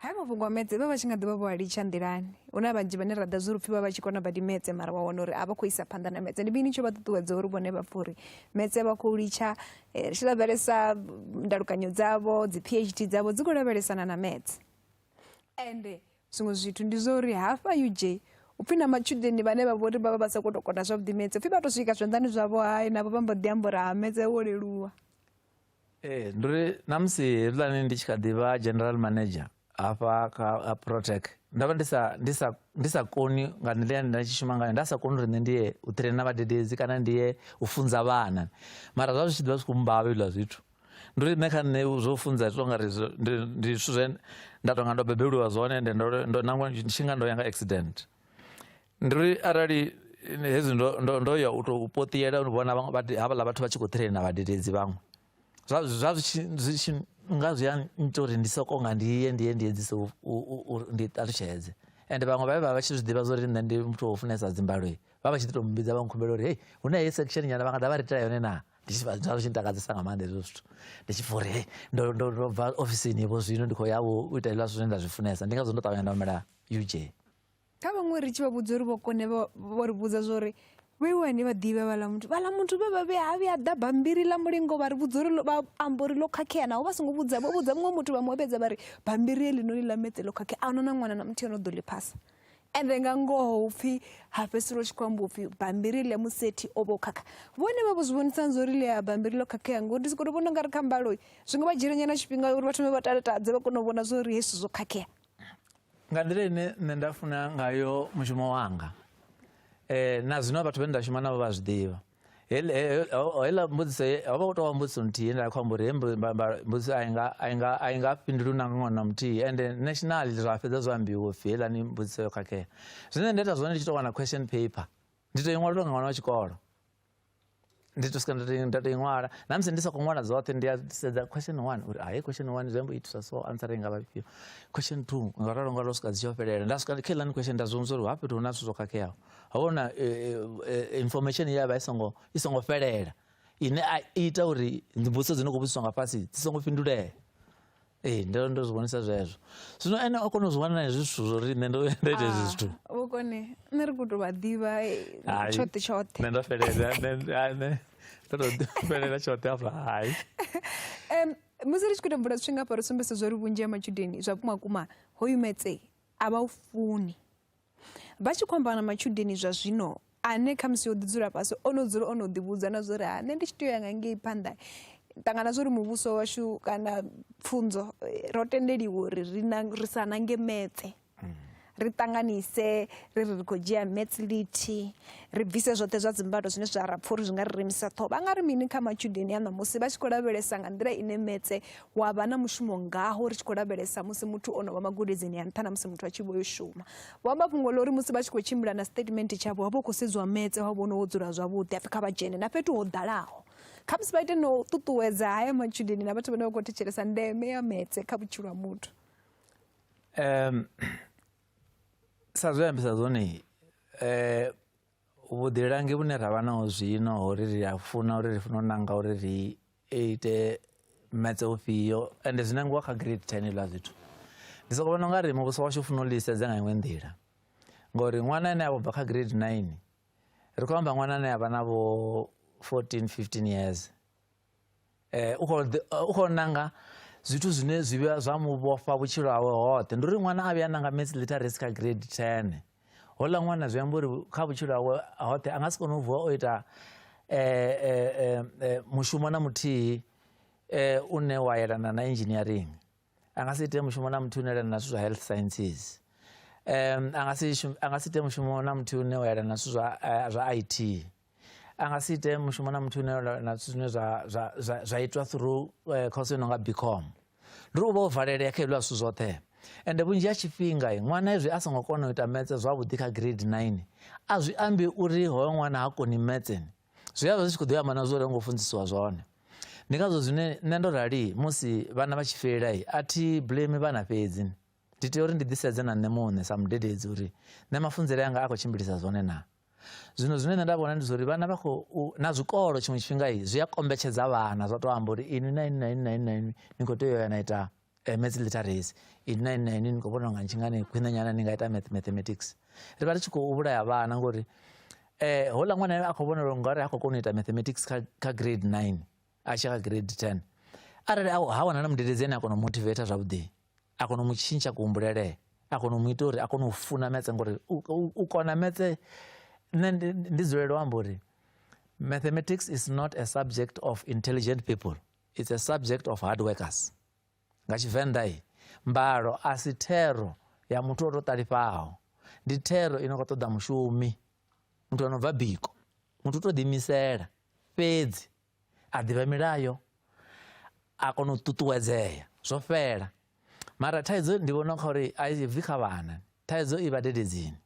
haya mafhungo a metse vha vha tshi nga ḓivha vho a litsha nḓilani hu na vhanzhi vhane ra ḓa zwi ri pfhi vha vha tshi kona badi metse mara wa wana uri a vha khou isa phanḓa na metse ndi mini tsho vha ṱuṱuwedza uri vhone vha pfha uri metse vha khou litsha eh, ri tshi lavhelesa ndalukanyo dzavho dzi phd dzavho dzi khou lavhelesana na metse ende zwiṅwe zwithu ndi zwa uri hafha uj upfhi na matshudeni vhane vha vhori vha vha vha sa khou tou kona zwavhuḓi metse upfhi vha tou swika zwanḓani zwavho hai navho vha mbo ḓi amba uri ha metse wo leluwa ee ndi uri na musi hezwiḽani ndi tshi kha ḓi vha general manager hafha kha protec ndo vha ndi sa ndi sa ndi sa koni nga nḓila nda tshi shuma ngayo nda sa koni uri nṋe ndi ye u traina vhadededzi kana ndi ye u funza vhana mara zwa zwi tshi ḓivha zwi khou mbavha izwiḽa zwithu ndi uri nṋe kha nṋe zwo funza zwi tonga ri ndi zwithu zwe nda tonga ndo bebelwa zwone ende ndo ndo nangwa tshi nga ndo ya nga accident Ndi ri arali hezwi ndo ndo ndo ya u tou poṱiyela u vhona havhaḽa vhathu vha tshi khou ṱhirela na vhadededzi vhaṅwe zwa zwa zwi tshi nga zwi a nnyita uri ndi soko nga ndi ye ndi ye ndi edzise uri ndi ṱalutshedze ende vhaṅwe vha vhe vha vha tshi zwi ḓivha zwa uri nṋe ndi muthu wo funesa dzimbaloi vha vha tshi ḓi tou mbidza vha nkhumbela uri hei hu na heyi section nyana vha nga ḓa vha ri itela yone naa ndi tshi zwa zwi tshi ntakadzesa nga maanḓa hezwo zwithu ndi tshi pfa uri hei ndo ndo ndo bva ofisini vho zwino ndi khou ya vho u ita hezwiḽa zwithu zwine nda zwi funesa ndi ngazwo ndo ṱavhanya nda humela uj kha vhaṅwe ri tshi vha vhudza uri vho kone vho ri vhudza zwa uri vhe wani vha ḓivhe vhaḽa muthu vhaḽa muthu vhe vha vhuya ha vhuya ḓa bammbiri ḽa mulingo vha ri vhudza uri vha amba uri ḽo khakhea naho vha songo vhudza vho vhudza muṅwe muthu vha mu vhedza vha ri bammbiri heḽinoni ḽa metse ḽo khakhea a huna na ṅwana na muthihi o no ḓo ḽi phasa ende nga ngoho upfhi ha fhedzisela u tshi khou amba upfhi bammbiri ḽe musethi o vha o khakha vhone vha vho zwi vhonisani zwa uri ḽi a bammbiri ḽo khakhea ngori ndi sokoto vhona u nga ri kha mbalo zwi nga vha dzhiela nyana tshifhinga uri vha thome vha talatadze vha kone u vhona zwa uri hezwi zwithu zwo khakhea nga nḓila ine nṋe nda funa ngayo mushumo wanga um na zwino vhathu vhane nda shuma navho vha zwi ḓivha heiḽa mbudziso ho vha u tou vha mbudziso nthihi nda khou amba uri he mbudziso a inga a inga a inga fhindulu na ṅwana na muthihi ende national zwa fhedza zwo ambiwa upfhi heiḽani mbudziso yo khakhea zwine nda ita zwone ndi tshi tou wana question paper ndi tou i ṅwalelwa nga ṅwana wa tshikolo ndi to swika nda to- nda to i ṅwala na musi ndi sa khou ṅwala dzoṱhe ndi a sedza question one uri hai question one zwi amba u itiswa so answer i nga vha ifhio question two nga ralo nga ralo swika dzi tshi yo fhelela nda swika kha iḽani question nda zwi vhudza uri hafha fhethu hu na zwithu zwo khakheaho ha vhona information ye ya vha i songo i songo fhelela ine a i ita uri mbudziso dzi no khou vhudziswa nga fhasi dzi songo fhindulea ee ndo ndo zwi vhonisa zwezwo zwino ene o kona u zwi wana na hezwi zwithu zwo ri nṋe ndo ndo ita hezwi ah, zwithu vhukone nṋe ri khou tou vha ḓivha eh, tshoṱhe tshoṱhe nṋe ndo fhelela nṋe ndo tou fhelela tshoṱhe afha hai um musi ri tshi khou tou bvula zwifhinga hafha ri sumbedzisa zwo ri vhunzhi ha matshudeni zwa vhumakuma ho yumetsei a vha u funi vha tshi khou amba na matshudeni zwa zwino ane khamusi o ḓi dzula fhasi o no dzula o no ḓivhudza na zwa uri ha nṋe ndi tshi tea u ya nga ngei phanḓa ṱangana zwa uri muvhuso washu kana pfunzo eh, ro tendeliwa uri ri sa nange metse mm. ri ṱanganise ri ri ri khou dzhia mets liti ri bvise zwoṱhe zwa dzimbalo zwine zwa ra pfha uri zwi nga ri remisa ṱhoho vha nga ri mini kha matshudeni a ṋamusi vha tshi khou lavhelesa nga nḓila ine metse wa vha na mushumo ngaho ri tshi khou lavhelesa musi muthu o no vha magudedzini ya nṱha na musi muthu a tshi vho yo shuma vho amba fhungo ḽa uri musi vha tshi khou tshimbila na statement tshavho wa vha u khou sedziwa metse wa vhona wo dzula zwavhuḓi apfi kha vha dzhene na fhethu ho ḓalaho kha musi vha ite no ṱuṱuwedza haya matshudeni na vhathu vhane vha khou thetshelesa ndeme ya metse kha vhutshilo ha muthu um sa zwe ambisa zwone um vhuḓilangi vhune ra vha naho zwino ho ri ri a funa uri ri funa u nanga uri ri ite metse ufhio ende zwi nangiwa kha grade ten hezwiḽa zwithu ndi soko vhona unga ri muvhuso washu funa u ḽisedza nga iṅwe nḓila ngori ṅwana ane a vho bva kha grade nine ri khou amba ṅwana ane a vha na vho fourteen fifteen years Eh, u khou nanga zwithu zwine zwi vhuya zwa mu vhofha vhutshilo hawe hoṱhe ndi uri ṅwana a vhuya nanga mats literacy kha grade ten hola ṅwana zwi amba uri kha vhutshilo hawe hoṱhe a nga si kone u vuwa o ita mushumo na muthihi une wa yelana na engineering a nga si ite mushumo na muthihi une yelana na zwithu zwa health sciences um a nga si ite mushumo na muthihi une wa yelana na zwithu zwa i t a nga si ite mushumo na muthu une na zwithu zwine zwa, zwa, zwa, zwa itwa through eh, course yo no nga bcom ndi ri u vha o valelea kha hezwiḽa zwithu zwoṱhe ende vhunzhi ha tshifhinga eh, ṅwana hezwi a songo kona u ita metse zwavhuḓi kha grade 9 a zwi ambi uri hoyo ṅwana ha koni metseni zwi a vha zwi tshi khou ḓo ya mana zwo ri ngo funzisiwa zwone ndi ngazwo zwine nṋe ndo rali musi vhana vha tshi fhelela i a thi blame vhana fhedzi ndi tea uri ndi ḓisedze na nṋe muṋe sa mudededzi uri nṋe mafunzele anga a khou tshimbilisa zwone na zwino zwine nṋe nda vhona ndi zwauri vhana vha khou na zwikolo tshiṅwe tshifhinga zwi a kombetshedza vhana zwa to amba uri inwi na inwi na inwi na inwi na inwi ni khou tea u ya na ita eh, maths literacy inwi na inwi na inwi ni khou vhona unga ntshingani khwine nyana ni nga ita math mathematics ri vha ri tshi khou vhulaya vhana ngori um houḽa ṅwana a khou vhona uri ngori ha khou kona u ita mathematics kha grade nine a tshi kha grade 10 arali ha wana na mudededzi ane a kona u motivate zwavhuḓi a kona u mu tshintsha kuhumbulelee a kona u mu ita uri a kone u funa metse ngori u kona metse nṋe ndi dzulele u amba uri mathematics is not a subject of intelligent people it's a subject of hard workers nga tshivenḓa i mbalo a si thero ya muthu o to ṱalifhaho ndi thero i no khou ṱoḓa mushumi muthu ano bva biko muthu u to ḓiimisela fhedzi a ḓivha milayo a kona u ṱuṱuwedzea zwo fhela mara thaidzo ndi vhona kha uri a bvi kha vhana thaidzo i vhadededzini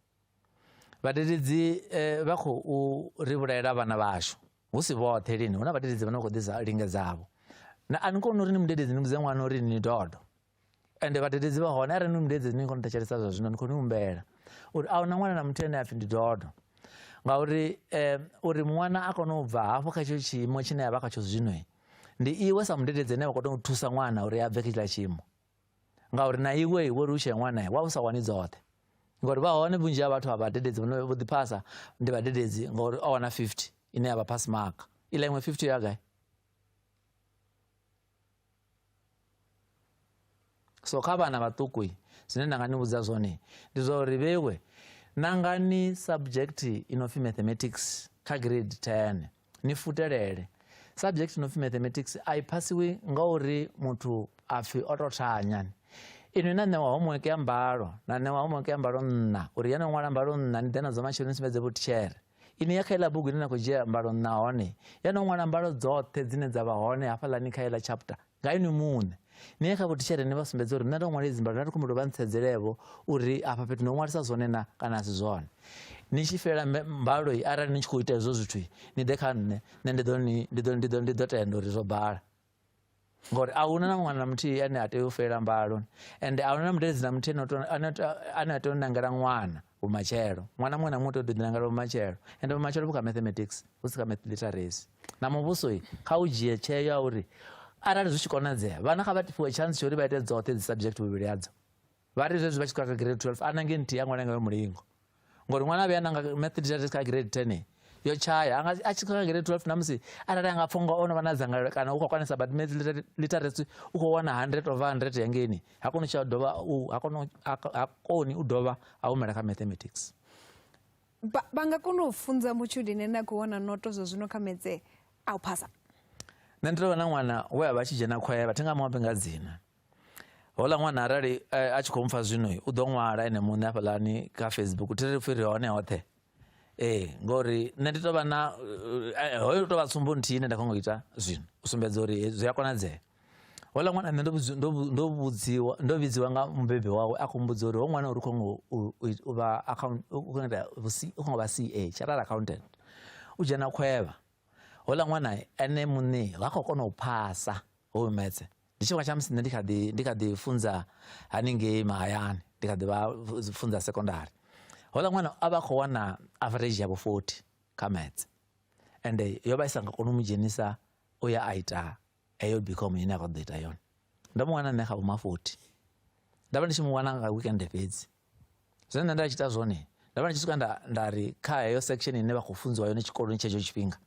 vhadededzi eh, vha khou ri vhulaela vhana vhashu hu si vhoṱhe lini hu na vhadededzi vhane vha khou ḓisa lingedzavho na a ni koni uri ni mudededzi ni mudze ṅwana uri ni dodo ende vhadededzi vha hone arali ni mudedzi ni khou ni thetshelesa zwa zwino ni khou ni humbela uri a huna ṅwana na muthu ane a pfhi ndi dodo ngauri um uri ṅwana a kone u bva hafho kha tshetsho tshiimo tshine a vha khatsho zwino ndi iwe sa mudededzi ane vha khou tea u thusa ṅwana uri a bve kha tshiḽa tshiimo ngauri na iwe iwe uri u tshee ṅwana wa u sa wani dzoṱhe ngori vha hone vhunzhi ha vhathu a vhadededzi vhone vho ḓiphasa ndi vhadededzi ngori o wana 50 ine ya vha pass mark iḽa iṅwe 50 ya gai so kha vhana vhaṱuku zwine nda nga ni vhudza zwone ndi zwa uri vhewe nangani subject i no pfi mathematics kha grade 10 ni futelele subject i no pfi mathematics a i phasiwi nga uri muthu a pfi o tou thanyani inwi na ṋewa homework ya mbalo na ṋewa homework ya mbalo nṋa uri ya no ṅwala mbalo nṋa ni ḓe nadzo matshelo ni sumbedze vhutitshere Ine ya kha iḽa bugu ine na khou dzhia mbalo nahone ya no ṅwala mbalo dzoṱhe dzine dza vha hone hafhaḽani kha iḽa chapter nga inwi muṋe ni ye kha vhotitshere ni vha sumbedze uri nṋe ndo ṅwala idzi mbalo na ri khumbelo vha ntsedzelevo uri afha fhethu ndo ṅwalisa zwone na kana a si zwone ni tshi fhela mbalo arali ni tshi khou ita hezwo zwithu ni ḓe kha nṋe nṋe ndi ḓo tenda uri zwo bala ngori a huna na ṅwana muthihi ane a tea u fela mbalo ende a huna na mudedzi na muthihi ane a tea u nangela ṅwana vhumatshelo ṅwana muṅwe na muṅwe u tea u ḓiḓinangela vhumatshelo ende vhumatshelo vhu kha mathematics hu si kha math literacy na muvhuso kha u dzhie tsheo ya uri arali zwi tshi konadzea vhana kha vha fhiwe chance tsha uri vha ite dzoṱhe dzi subject vhuvhili hadzo vha ri zwezwi vha tshi kha grade 12 ana nge nthihi ya ṅwana ngayo mulingo ngori ṅwana a vhuya nanga maths kha grade 10 yo tshaya anga a tshi kha grade 12 na musi arali anga pfha unga ono vha na dzangalelo kana u khou kwanisa but maths literacy u khou wana 100 over 100 ya ngeni ha koni tsha dovha u ha koni ha koni u dovha a humela kha mathematics ba ba nga kona u funza mutshudeni na ku wana noto zwa zwino kha metse a u phasa nṋe ndi tovha na ṅwana we a vha tshi dzhena khoya vha thenga muambe nga dzina hola ṅwana arali eh, a tshi khou mpfa zwino u ḓo ṅwala ene muṋe afhaḽani kha facebook thi ri pfhi ri hone hoṱhe ee ngori nṋe ndi tovha na eh, eh, hoyo tovha tsumbo nthihi ine nda khongo ita zwino u sumbedza uri zwi a konadzea hola ṅwana nṋe ndo vhudziwa ndo vhidziwa nga mubebi wawe a khou mbudza uri ho ṅwana uri khongo u vha account u khongo vha ca chartered accountant u dzhena khwevha hola ṅwana ene muṋe vha khou kona u phasa hoyu metse ndi tshifhinga tsha musi nṋe ndi kha ḓi ndi kha ḓi funza haningei mahayani ndi kha ḓi vha funza sekondari hola ṅwana a vha khou wana average yavho 40 kha maths ende yo vha i sa nga koni u mu dzhenisa u ya a ita heyo bicom ine a khou ḓo ita yone ndo mu wana nṋe kha vhoma 40 nda vha ndi tshi mu wana nga weekend fhedzi zwine nṋe nda tshi ita zwone nda vha ndi tshi swika nda nda ri kha heyo section ine vha khou funziwa yone tshikoloni tshetsho tshifhinga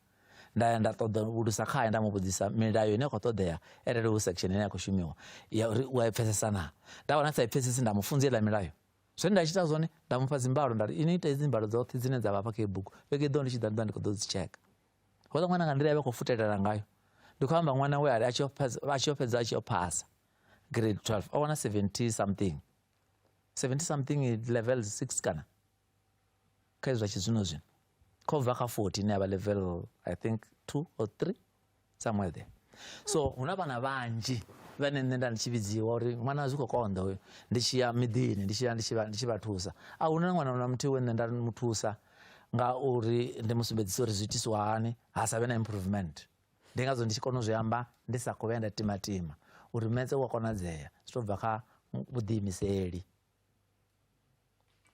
nda ya nda ṱoḓa vhulusa khae nda mu vhudzisa milayo ine ya khou ṱoḓea arali hu section ine ya khou shumiwa ya uri u a i pfesesa naa nda wana sa i pfesesi nda mu funza iḽa milayo zwine nda tshi ita zwone nda mu fha dzimbalo nda ri ini ita hedzi mbalo dzoṱhe dzine dza vha fha kha i bugu vhege i ḓo ndi tshi ḓa ndi ḓa ndi khou ḓo dzi tsheka houḽa ṅwana nga nḓila ya vha khou futelela ngayo ndi khou amba ṅwana we a ri a tshi yo fhedza a tshi yo fhedza a tshi yo phasa grade 12 o wana 70 something 70 something levels 6 kana kha izwa tshizwino zwino kho bva kha 40 ine yavha level i think 2 or 3 somewhere there so huna vhana vhanzhi vhane nṋe nda ndi tshi vhidziwa uri ṅwana zwi khou konḓa uyo ndi tshi ya miḓini ndi tshi ya ndi tshi vha thusa a huna ṅwana na muthihi we nṋe nda mu thusa nga uri ndi mu sumbedzisa uri zwi itiswa hani ha sa vhe na improvement ndi ngazwo ndi tshi kona u zwi amba ndi sa khou vhuya nda timatima uri metse u a konadzea zwi tou bva kha vhuḓiimiseli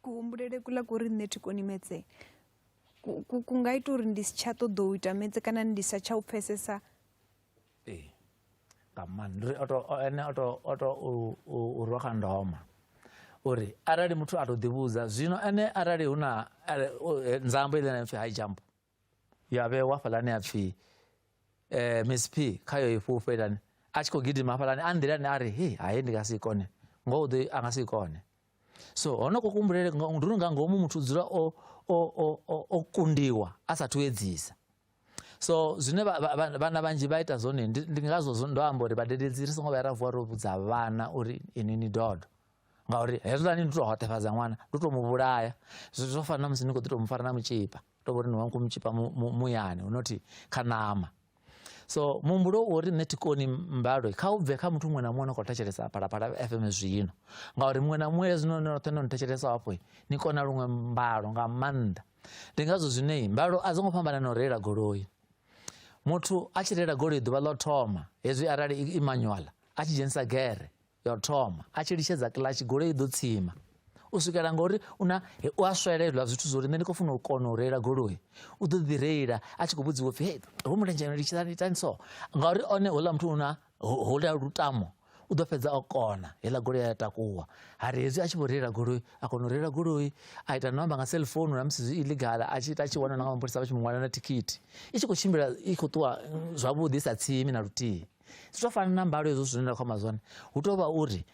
kuhumbulele kula kuri nṋe thi koni metse ku nga ita uri ndi si tsha ṱoḓa u ita metse kana ndi sa tsha u pfesesa ee nga maanḓa ri oto ene oto oto u rwa kha ndoma uri arali muthu a to ḓivhudza zwino ene arali hu na eh, nzambo ile na pfi high jump ya vhewa hafhalani a pfhi eh Miss P kha yo i fhufhelani a tshi khou gidima hafhalani a nḓilani a ri he haye ndi nga si kone ngoho ḓo a nga si kone so hono ko kumbulele ndi uri nga ngomu muthu dzula o o o o kundiwa a sa thu edzisa so zwine vhana vhanzhi vha ita zwone ndi ngazwo ndo amba uri vhadededzi ri songo vha ra vuwa ro vhudza vhana uri ini ni dodo ngauri hezwiḽani ndi to hoṱefhadza ṅwana ndi to mu vhulaya zwo fana na musi ni khou ḓi to mu fara na mutshipa to vhori ni wa nku mutshipa muyani hu nothi kha ṋama so muhumbulo wo ri nṋe thi koni mbalo kha u bve kha muthu muṅwe na muṅwe no khou thetshelesa phalaphala fm zwino ngauri muṅwe na muṅwe zwino ni roṱhe no ni thetshelesa hafho ni kona luṅwe mbalo nga maanḓa ndi ngazwo zwine mbalo a dzo ngo fhambana na u reila goloi muthu a tshi reila goloi ḓuvha ḽo thoma hezwi arali i manual a tshi dzhenisa gere yo thoma a tshi litshedza kiḽatshi goloi i ḓo tsima u swikela ngori una u a swelelwa zwithu zwo ri nṋe ndi khou funa u kona u reila goloi u ḓo ḓi reila a tshi khou vhudziwa upfi he ho mulenzhe litshani itani so ngauri one houḽa muthu una houḽa lutamo u ḓo fhedza o kona heiḽa goloi ya takuwa ha ri hezwi a tshi vho reila goloi a kona u reila goloi a ita no amba nga cellphone na musi zwi illegal a tshi ita a tshi wana na nga mapholisa vha tshi mu ṅwala na thikhithi i tshi khou tshimbila i khou ṱuwa zwavhuḓi i sa tsimi na luthihi zwo fana na mbalo hezwo zwine nda khou amba zwone hu tou vha uri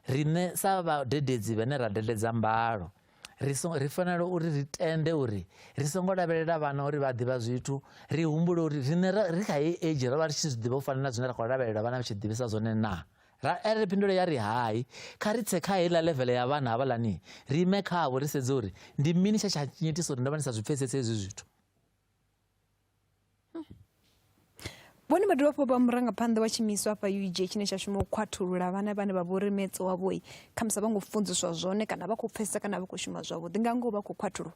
riṋe sa vhadededzi vhane ra dededza mbalo ri so ri fanela uri ri tende uri ri songo lavhelela vhana uri vha ḓivha zwithu ri humbule uri riṋe ri kha heyi age ro vha ri tshi zwi ḓivha u fana na zwine ra khou lavhelela vhana vha tshi ḓivhisa zwone naa ra ere phindulo ya ri hai kha ri tse kha heiḽa levele ya vhana havhaḽani ri ime khavho ri sedze uri ndi mini tsha tsha nyitisa uri ndo vha ndi sa zwi pfesese hezwi zwithu vhone vha dovha hafhu vha murangaphanḓa wa tshiimiswa hafha ug tshine tsha shuma u khwathulula vhana vhane vha vhori metse wavhoi khamusi vha ngo funziswa zwone kana vha khou pfesesa kana vha khou shuma zwavhuḓi nga ngoho vha khou khwathulwa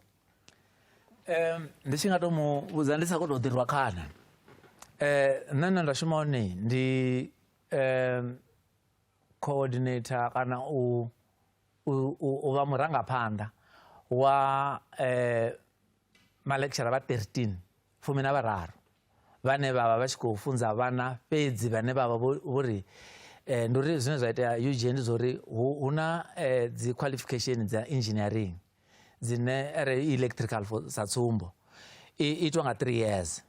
um ndi tshi nga to mu vhudza ndi sa khou tou ḓirwa khana um nṋe nṋe nda shuma hone ndi um coordinator kana u u vha murangaphanḓa wa um Malekshara vha 13 fumi na vhararu vhane vha vha vha tshi khou funza vhana fhedzi vhane vha vha vho ri eh, ndi uri zwine zwa itea ug ndi zwa uri hu na eh, dzi qualification dza engineering dzine re electrical for sa tsumbo itwa nga three years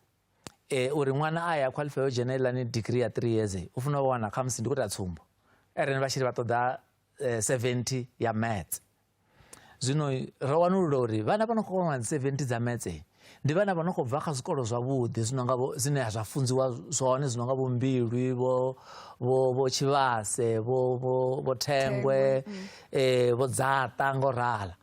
eh, uri ṅwana a ya qualify yo dzhena ilani degree ya three years u funa u wana khamusi ndi khou ta tsumbo eren vha tshiri vha ṱoḓa eh, 70 ya maths zwino ro wanulula uri vhana vha no khou kona 70 dza metse ndi vhana vha no khou bva kha zwikolo zwavhuḓi zwino nga zwine zwa funziwa zwone zwino nga vhombilwi vho vho vho tshivhase vho vho vho thengwe mm. eh vho dzaṱa ngo rala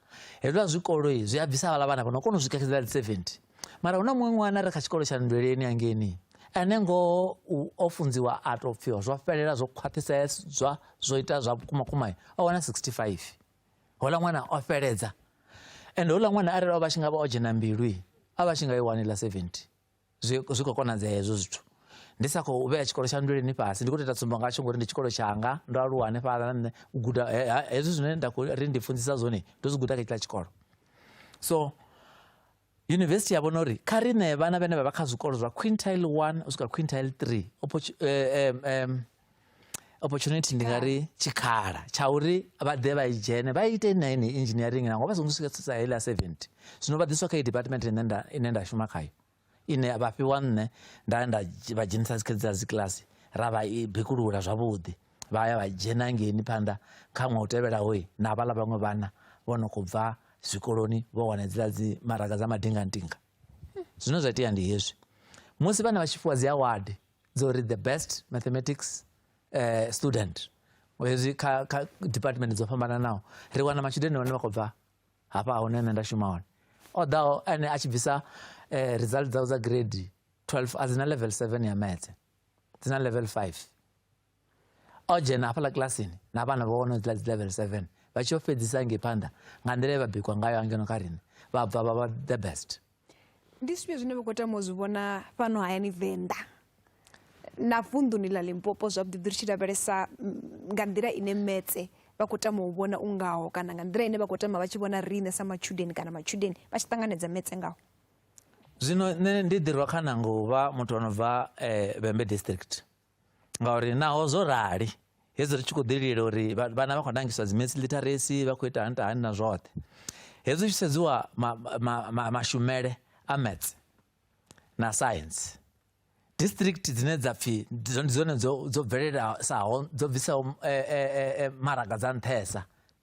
hezwa zwikolo zwi a bvisa vhala vhana vha no kona u swika kha dzi 70 mara hu na muṅwe ṅwana ri kha tshikolo tsha nndweleni angeni ane ngoho o funziwa a tou pfiwa zwo fhelela zwo khwaṱhisedzwa zwo ita zwa vhukumakuma o wana 65 houḽa ṅwana o fheledza ende houḽa ṅwana arali o vha tshi nga vha o dzhena mbilu a vha tshi nga i wani ḽa 70 zwi zwi khou konadzea hezwo zwithu ndi sa khou vhea tshikolo tsha nndweleni fhasi ndi khou tou ita tsumbo ngatsho ngori ndi tshikolo tshanga ndo aluwa hanefhaḽa na nṋe u guda hezwi zwine nda khou ri ndi funzisa zwone ndo zwi guda kha tshiḽa tshikolo so Yunivesithi ya vhona uri kha ri ṋee vhana vhane vha vha kha zwikolo zwa quintile 1 u swika quintile 3 eh, eh, opportunity ndi nga ri tshikhala tsha uri vha ḓe vha i dzhene vha ite na ine engineering nango vha songo swika tsitsa heiḽa 70 zwino vha ḓiswa kha i department ine nda ine nda shuma khayo ine vha fhiwa nṋe nda nda vha dzhenisa dzikha dza dzi kiḽasi ra vha i bikulula zwavhuḓi vha ya vha dzhena ngeini phanḓa kha ṅwaha u tevhelaho na vhaḽa vhaṅwe vhana vho no khou bva zwikoloni vho wana dziḽa dzi maraga dza madingantinga zwine zwa itea ndi hezwi musi vhana vha tshi fhiwa dzi award dzo uri the best mathematics uh, student hezwi kha kha department dzo fhambananaho ri wana matshudeni vhane vha khou bva hafha hune nṋe nda shuma hone o ḓaho ene a tshi bvisa um result dzawe dza grade 12 a dzi na level 7 ya metse dzi na level 5 o dzhena hafhaḽa kilasini na vhana vha wana dzi level 7 vha tshi yo fhedzisa ngei phanḓa nga nḓila ye vha bikwa ngayo angeno kha riṋe vha bva vha vha the best ndi zwifhio zwine vha khou tama u zwi vhona fhano hayani venḓa na vunḓuni ḽa limpopo zwavhuḓi ḓi ri tshi lavhelesa mm, nga nḓila ine metse vha khou tama u vhona u ngaho kana nga nḓila ine vha khou tama vha tshi vhona riṋe sa matshudeni kana matshudeni vha tshi ṱanganedza metse ngaho zwino nṋe ndi ḓirwa kha nanga u vha muthu o no bva um vhembe district ngauri naho zwo rali hezwi ri tshi khou ḓililela uri vhana vha khou nangiswa dzimesi literacy vha khou ita hanita hani na zwoṱhe hezwi tshi sedziwa mashumele a mats na science district dzine dza pfhi ndi dzone dzo bvelelasaho dzo bvisaho eh, eh, eh, maraga dza nṱhesa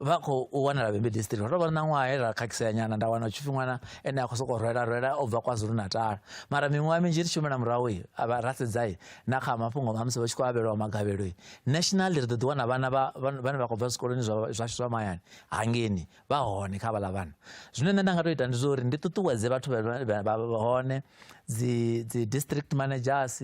vha khou wanala vhembe district ro vha na ṅwaha he ra khakhisea nyana nda wana tshipfi ṅwana ene a khou sokou rwela rwela o bva kwazulu natal mara miṅwaha minzhi ri tshi humela murahu avha ra sedzai na kha mafhungo a musi vha tshi khou avhelwa magavhelo nationally ri ḓo ḓi wana vhana vhane vha khou bva zwikoloni zwashu zwa mahayani hangeni vha hone kha vhala vhana zwine nṋe nda nga to ita ndi zwa uri ndi ṱuṱuwedze vhathu vha hone dzi dzi district managers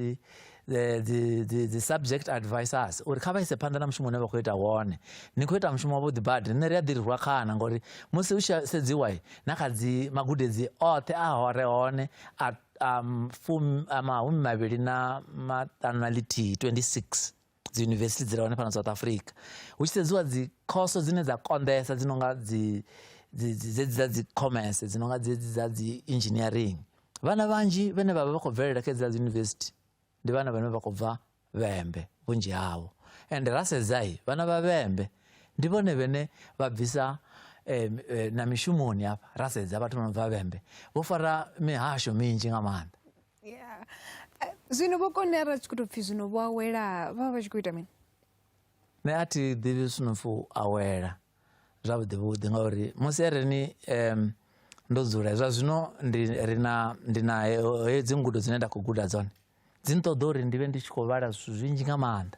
the, the, the, the subject advisors uri kha vha ise phanḓa na mushumo une vha khou ita wone ni khou ita mushumo wavhuḓi badi nṋe ri a ḓirirwa khana ngori musi u tshi sedziwa na kha dzi magudedzi oṱhe a hore hone a um, fum, a mahumi mavhili na maṱanu na lithihi 26 dzi university dzi rehone fhano south africa hu tshi sedziwa dzi khoso dzine dza konḓesa dzi nonga dzi dzedzi dza dzi commerce dzi nonga dzedzi dza dzi engineering vhana vhanzhi vhane vhavha vha khou bvelela kha dzi university ndi vhana vhane vha khou bva vhembe vhunzhi havho ende ra sedzai vhana vha vhembe ndi vhone vhene vha bvisa eh, eh, na mishumoni hafha ra sedza vhathu vha no bva vhembe vho fara mihasho minzhi nga maanḓa yeah zwino vho konera tshi khou tou pfhi zwino vho awela vha vha tshi khou ita mini nṋe a thi ḓivhi zwino pfhi u awela zwavhuḓi vhuḓi ngauri musi areni um ndo dzula zwa zwino ndi ri na ndi na heyo dzi ngudo dzine nda khou guda dzone dzi nṱoḓa uri ndi vhe ndi tshi khou vhala zwithu zwinzhi nga maanḓa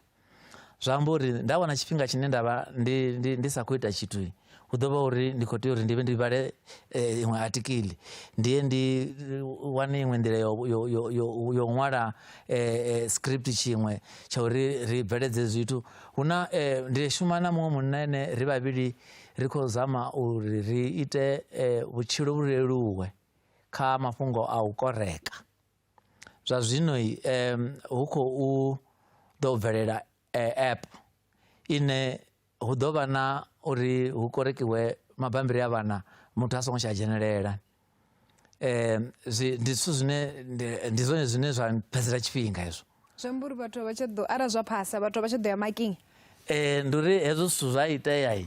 zwa amba uri nda wana tshifhinga tshine nda vha ndi, ndi, ndi sa khou ita tshithu hu ḓo vha uri ndi khou tea uri ndi vhe ndi vhale eh, iṅwe atikili ndi ye ndi eh, wane iṅwe nḓila yo, yo, yo, yo, yo ṅwala eh, eh, script tshiṅwe tsha uri ri bveledze zwithu hu na eh, ndi shuma na muṅwe munna ene ri vhavhili ri khou zama uri ri ite eh, vhutshilo vhu leluwe kha mafhungo a u koreka zwa zwino hu khou ḓo bvelela app ine hu ḓo vha na uri hu korekiwe mabambiri a vhana muthu a songo tsha dzhenelela um zwi ndi zwithu zwine ndi zwone zwine zwa phedzela tshifhinga hezwo zwi amba uri vhathu vha tsha ḓo arali zwa phasa vhathu vha tsha ḓo ya making um ndi uri hezwo zwithu zwa itea um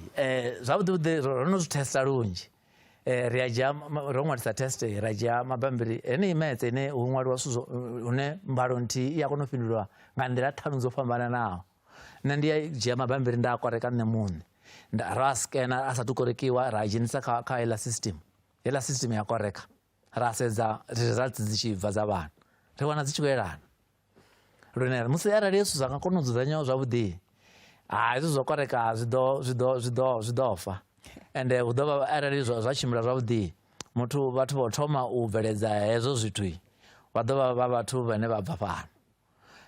zwavhuḓi vhuḓi ro no zwi thesta lunzhi eh, ri a dzhia ro ṅwalisa test ra dzhia mabambiri heneyi metse ine hu ṅwaliwa zwithu zwo hune mbalo nthihi i a kona u fhindulwa nga nḓila ṱhanu dzo fhambananaho nṋe ndi a dzhia mabambiri nda a koreka nṋe muṋe ra skena a sathu korekiwa ra dzhenisa kha kha heiḽa system heiḽa system ya koreka ra sedza results dzi tshi bva dza vhana ri wana dzi tshi khou elana lune musi arali yesu zwa nga kona u dzudzanyaho zwavhuḓi ha hezwi zwo koreka zwi ḓo zwi ḓo zwi ḓo zwi ḓo fa ende hu ḓo vha arali zwa tshimbila zwavhuḓi muthu vhathu vho thoma u bveledza hezwo zwithu vha ḓo vha vha vhathu vhane vha bva fhano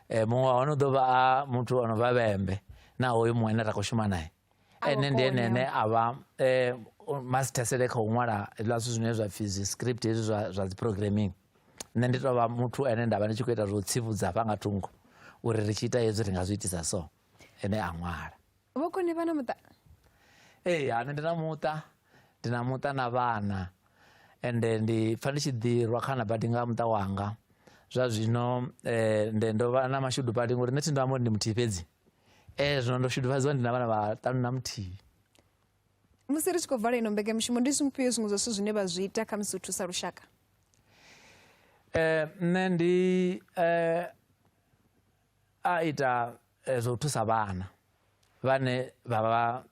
um muṅwe wa hone u ḓo vha a muthu o no vha vhembe na hoyu muṅwe ane ra khou shuma naye ene ndi ene ene a vha eh, masithesele kha u ṅwala hezwiḽa zwithu zwine zwa pfhi zwi script hezwi zwa zwa dzi programming nṋe ndi tou vha muthu ene nda vha ndi tshi khou ita zwo tsivhudza hafha nga thungo uri ri tshi ita hezwi ri nga zwi itisa so ene a ṅwala vhokoni vha na muṱa ee hani ndi na muṱa ndi na muṱa na vhana ende ndi pfa ndi tshi ḓirwa khana badi nga muṱa wanga zwa zwino eh, nde ndo vha na mashudu badi ngori nṋe thi ndo amba uri ndi muthihi fhedzi ee zwino ndo shudufhadziwa ndi na vhana vhaṱanu na muthihi musi ri tshi khou vala ino mbekanyamushumo ndi zwifhio zwiṅwe zwa zwithu zwine vha zwi ita khamusi u thusa lushaka um nṋe ndi um a ita eh, zwa u thusa vhana vhane vha vha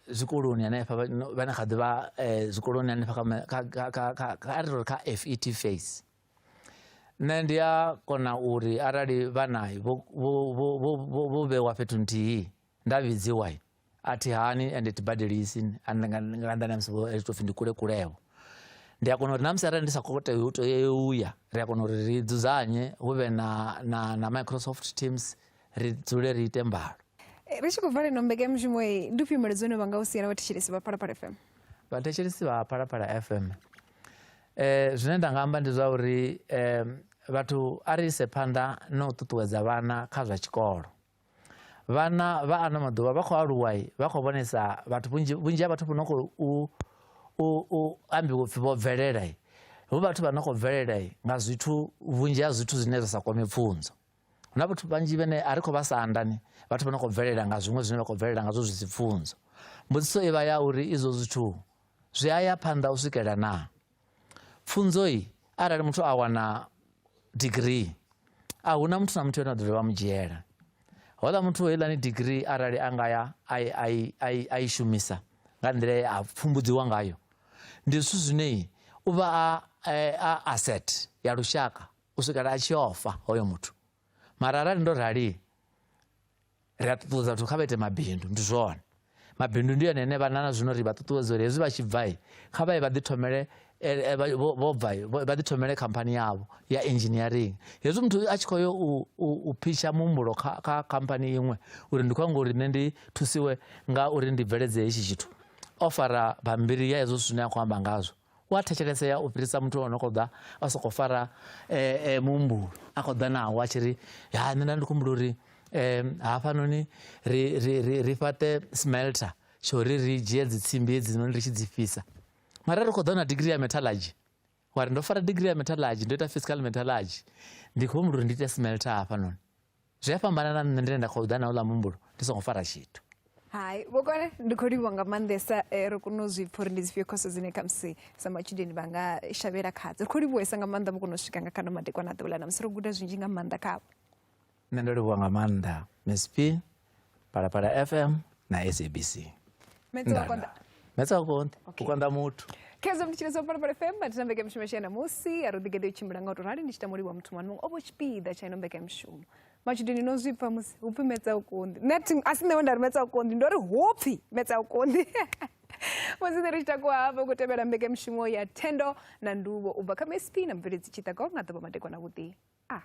zwikoloni hanefha vhane kha ḓivha um eh, zwikoloni hanefha kha a ri ri kha fet face nṋe ndi a kona uri arali vha nayo vho vhewa fhethu nthihi nda vhidziwa a thi hani ende thi badelisi nga nnḓa na musi vho tou pfhi ndi kule kulewo ndi a kona uri na musi arali ndi sa khou tea u tea u ya ri a kona uri ri dzudzanye hu vhe na na na microsoft teams ri dzule ri ite mbalo eh, ri tshi khou vala ino mbekanyamushumo iyi ndi fhimeledzo ine vha nga u siela vhathetshelesi vha phalaphala fm vhathetshelesi vha phalaphala fm Eh, zwine nda nga amba ndi zwa uri eh, vhathu a ri ise phanḓa na u ṱuṱuwedza vhana kha zwa tshikolo vhana vha ano maḓuvha vha khou aluwa vha khou vhonesa vhathu vhunzhi ha vhathu vho no khou u ambiwa upfhi vho bvelela hu vhathu vha no khou bvelela nga zwithu vhunzhi ha zwithu zwine zwa sa kwame pfunzo Hu na vhathu vhanzhi vhane a ri khou vha sa andani, vhathu vha no khou bvelela nga zwiṅwe zwine vha khou bvelela ngazwo zwi si pfunzo. Mbudziso i vha ya uri izwo zwithu zwi a ya phanḓa u swikela na? Pfunzoi arali muthu a wana degree a hu na muthu na muthu ane a ḓo dovha mu dzhiela. Hola muthu heiḽani degree arali a nga ya a i shumisa nga nḓila ye a pfumbudziwa ngayo ndi zwithu zwine u vha a asset ya lushaka u swikela a tshi ofa hoyo muthu mara arali ndo rali ri a ṱuṱuwedza vhathu kha vha ite mabindu ndi zwone mabindu ndi yone ene vhanana zwino ri vha ṱuṱuwedza uri hezwi vha tshi bvai kha vha ye vha ḓithomele eh, eh, vho bva vha ḓithomele khamphani yavho ya engineering hezwi muthu a tshi khou yo u phitsha muhumbulo kha khamphani iṅwe uri ndi khou anga uri nṋe ndi thusiwe nga uri ndi bveledze hetshi tshithu o fara bambiri ya hezwo zwithu zwine a khou amba ngazwo u a thetshelesea u fhirisa muthu o no khou ḓa a sokou fara eh, eh, muhumbulo a khou ḓa nawo a tshi ri ya nṋe nda ndi khumbulo uri um hafhanoni ri, ri, ri, ri fhaṱe smelter tsho ri ri dzhie dzitsimbi hedzinoni ri tshi dzi fhisa mara ri khou ḓa na digiri ya metallurgy wa ri ndo fara digiri ya metallurgy ndo ita fiscal metallurgy ndi khou humbula uri ndi ite smelter hafhanoni zwi a fhambana na nṋe ndine nda khou ḓa na uḽa muhumbulo ndi songo fara tshithu hai vhokone ndi khou livhuwa nga maanḓesa eh, ri kone u zwi pfha uri ndi dzifhio khoso dzine khamusi sa matshudeni vha nga shavhela khadzo ri khou livhuwesa nga maanḓa vho kona u swika nga kha no madekwana a ḓuvha ḽa namusi ro guda zwinzhi nga maanḓa khavho nṋe ndo livhuwa nga maanḓa msp phalaphala fm na sabc metsokonda metsokonda kukonda muthu khezo mutshilo zwa phalaphala fm vha thina mbekamishumo yashe na musi a ro ḓigeḓe u tshimbila nga u to rali ndi tshi tamo livhuwa muthu mwana muṅwe o vho tshipiḓa tsha ino mbekamishumo matshudeni no zwi pfa musi hu pfi metsa u konḓi nṋe a si nṋe we nda ri metsa u konḓi ndo ri hu pfi metsa u konḓi musi ri tshi takuwa hafho ku tevhela mbekamishumo ya thendo na nduvho u bva kha msp na mubveledzi tshiṱago nga ḓuvha madekwana vhuḓi a ah.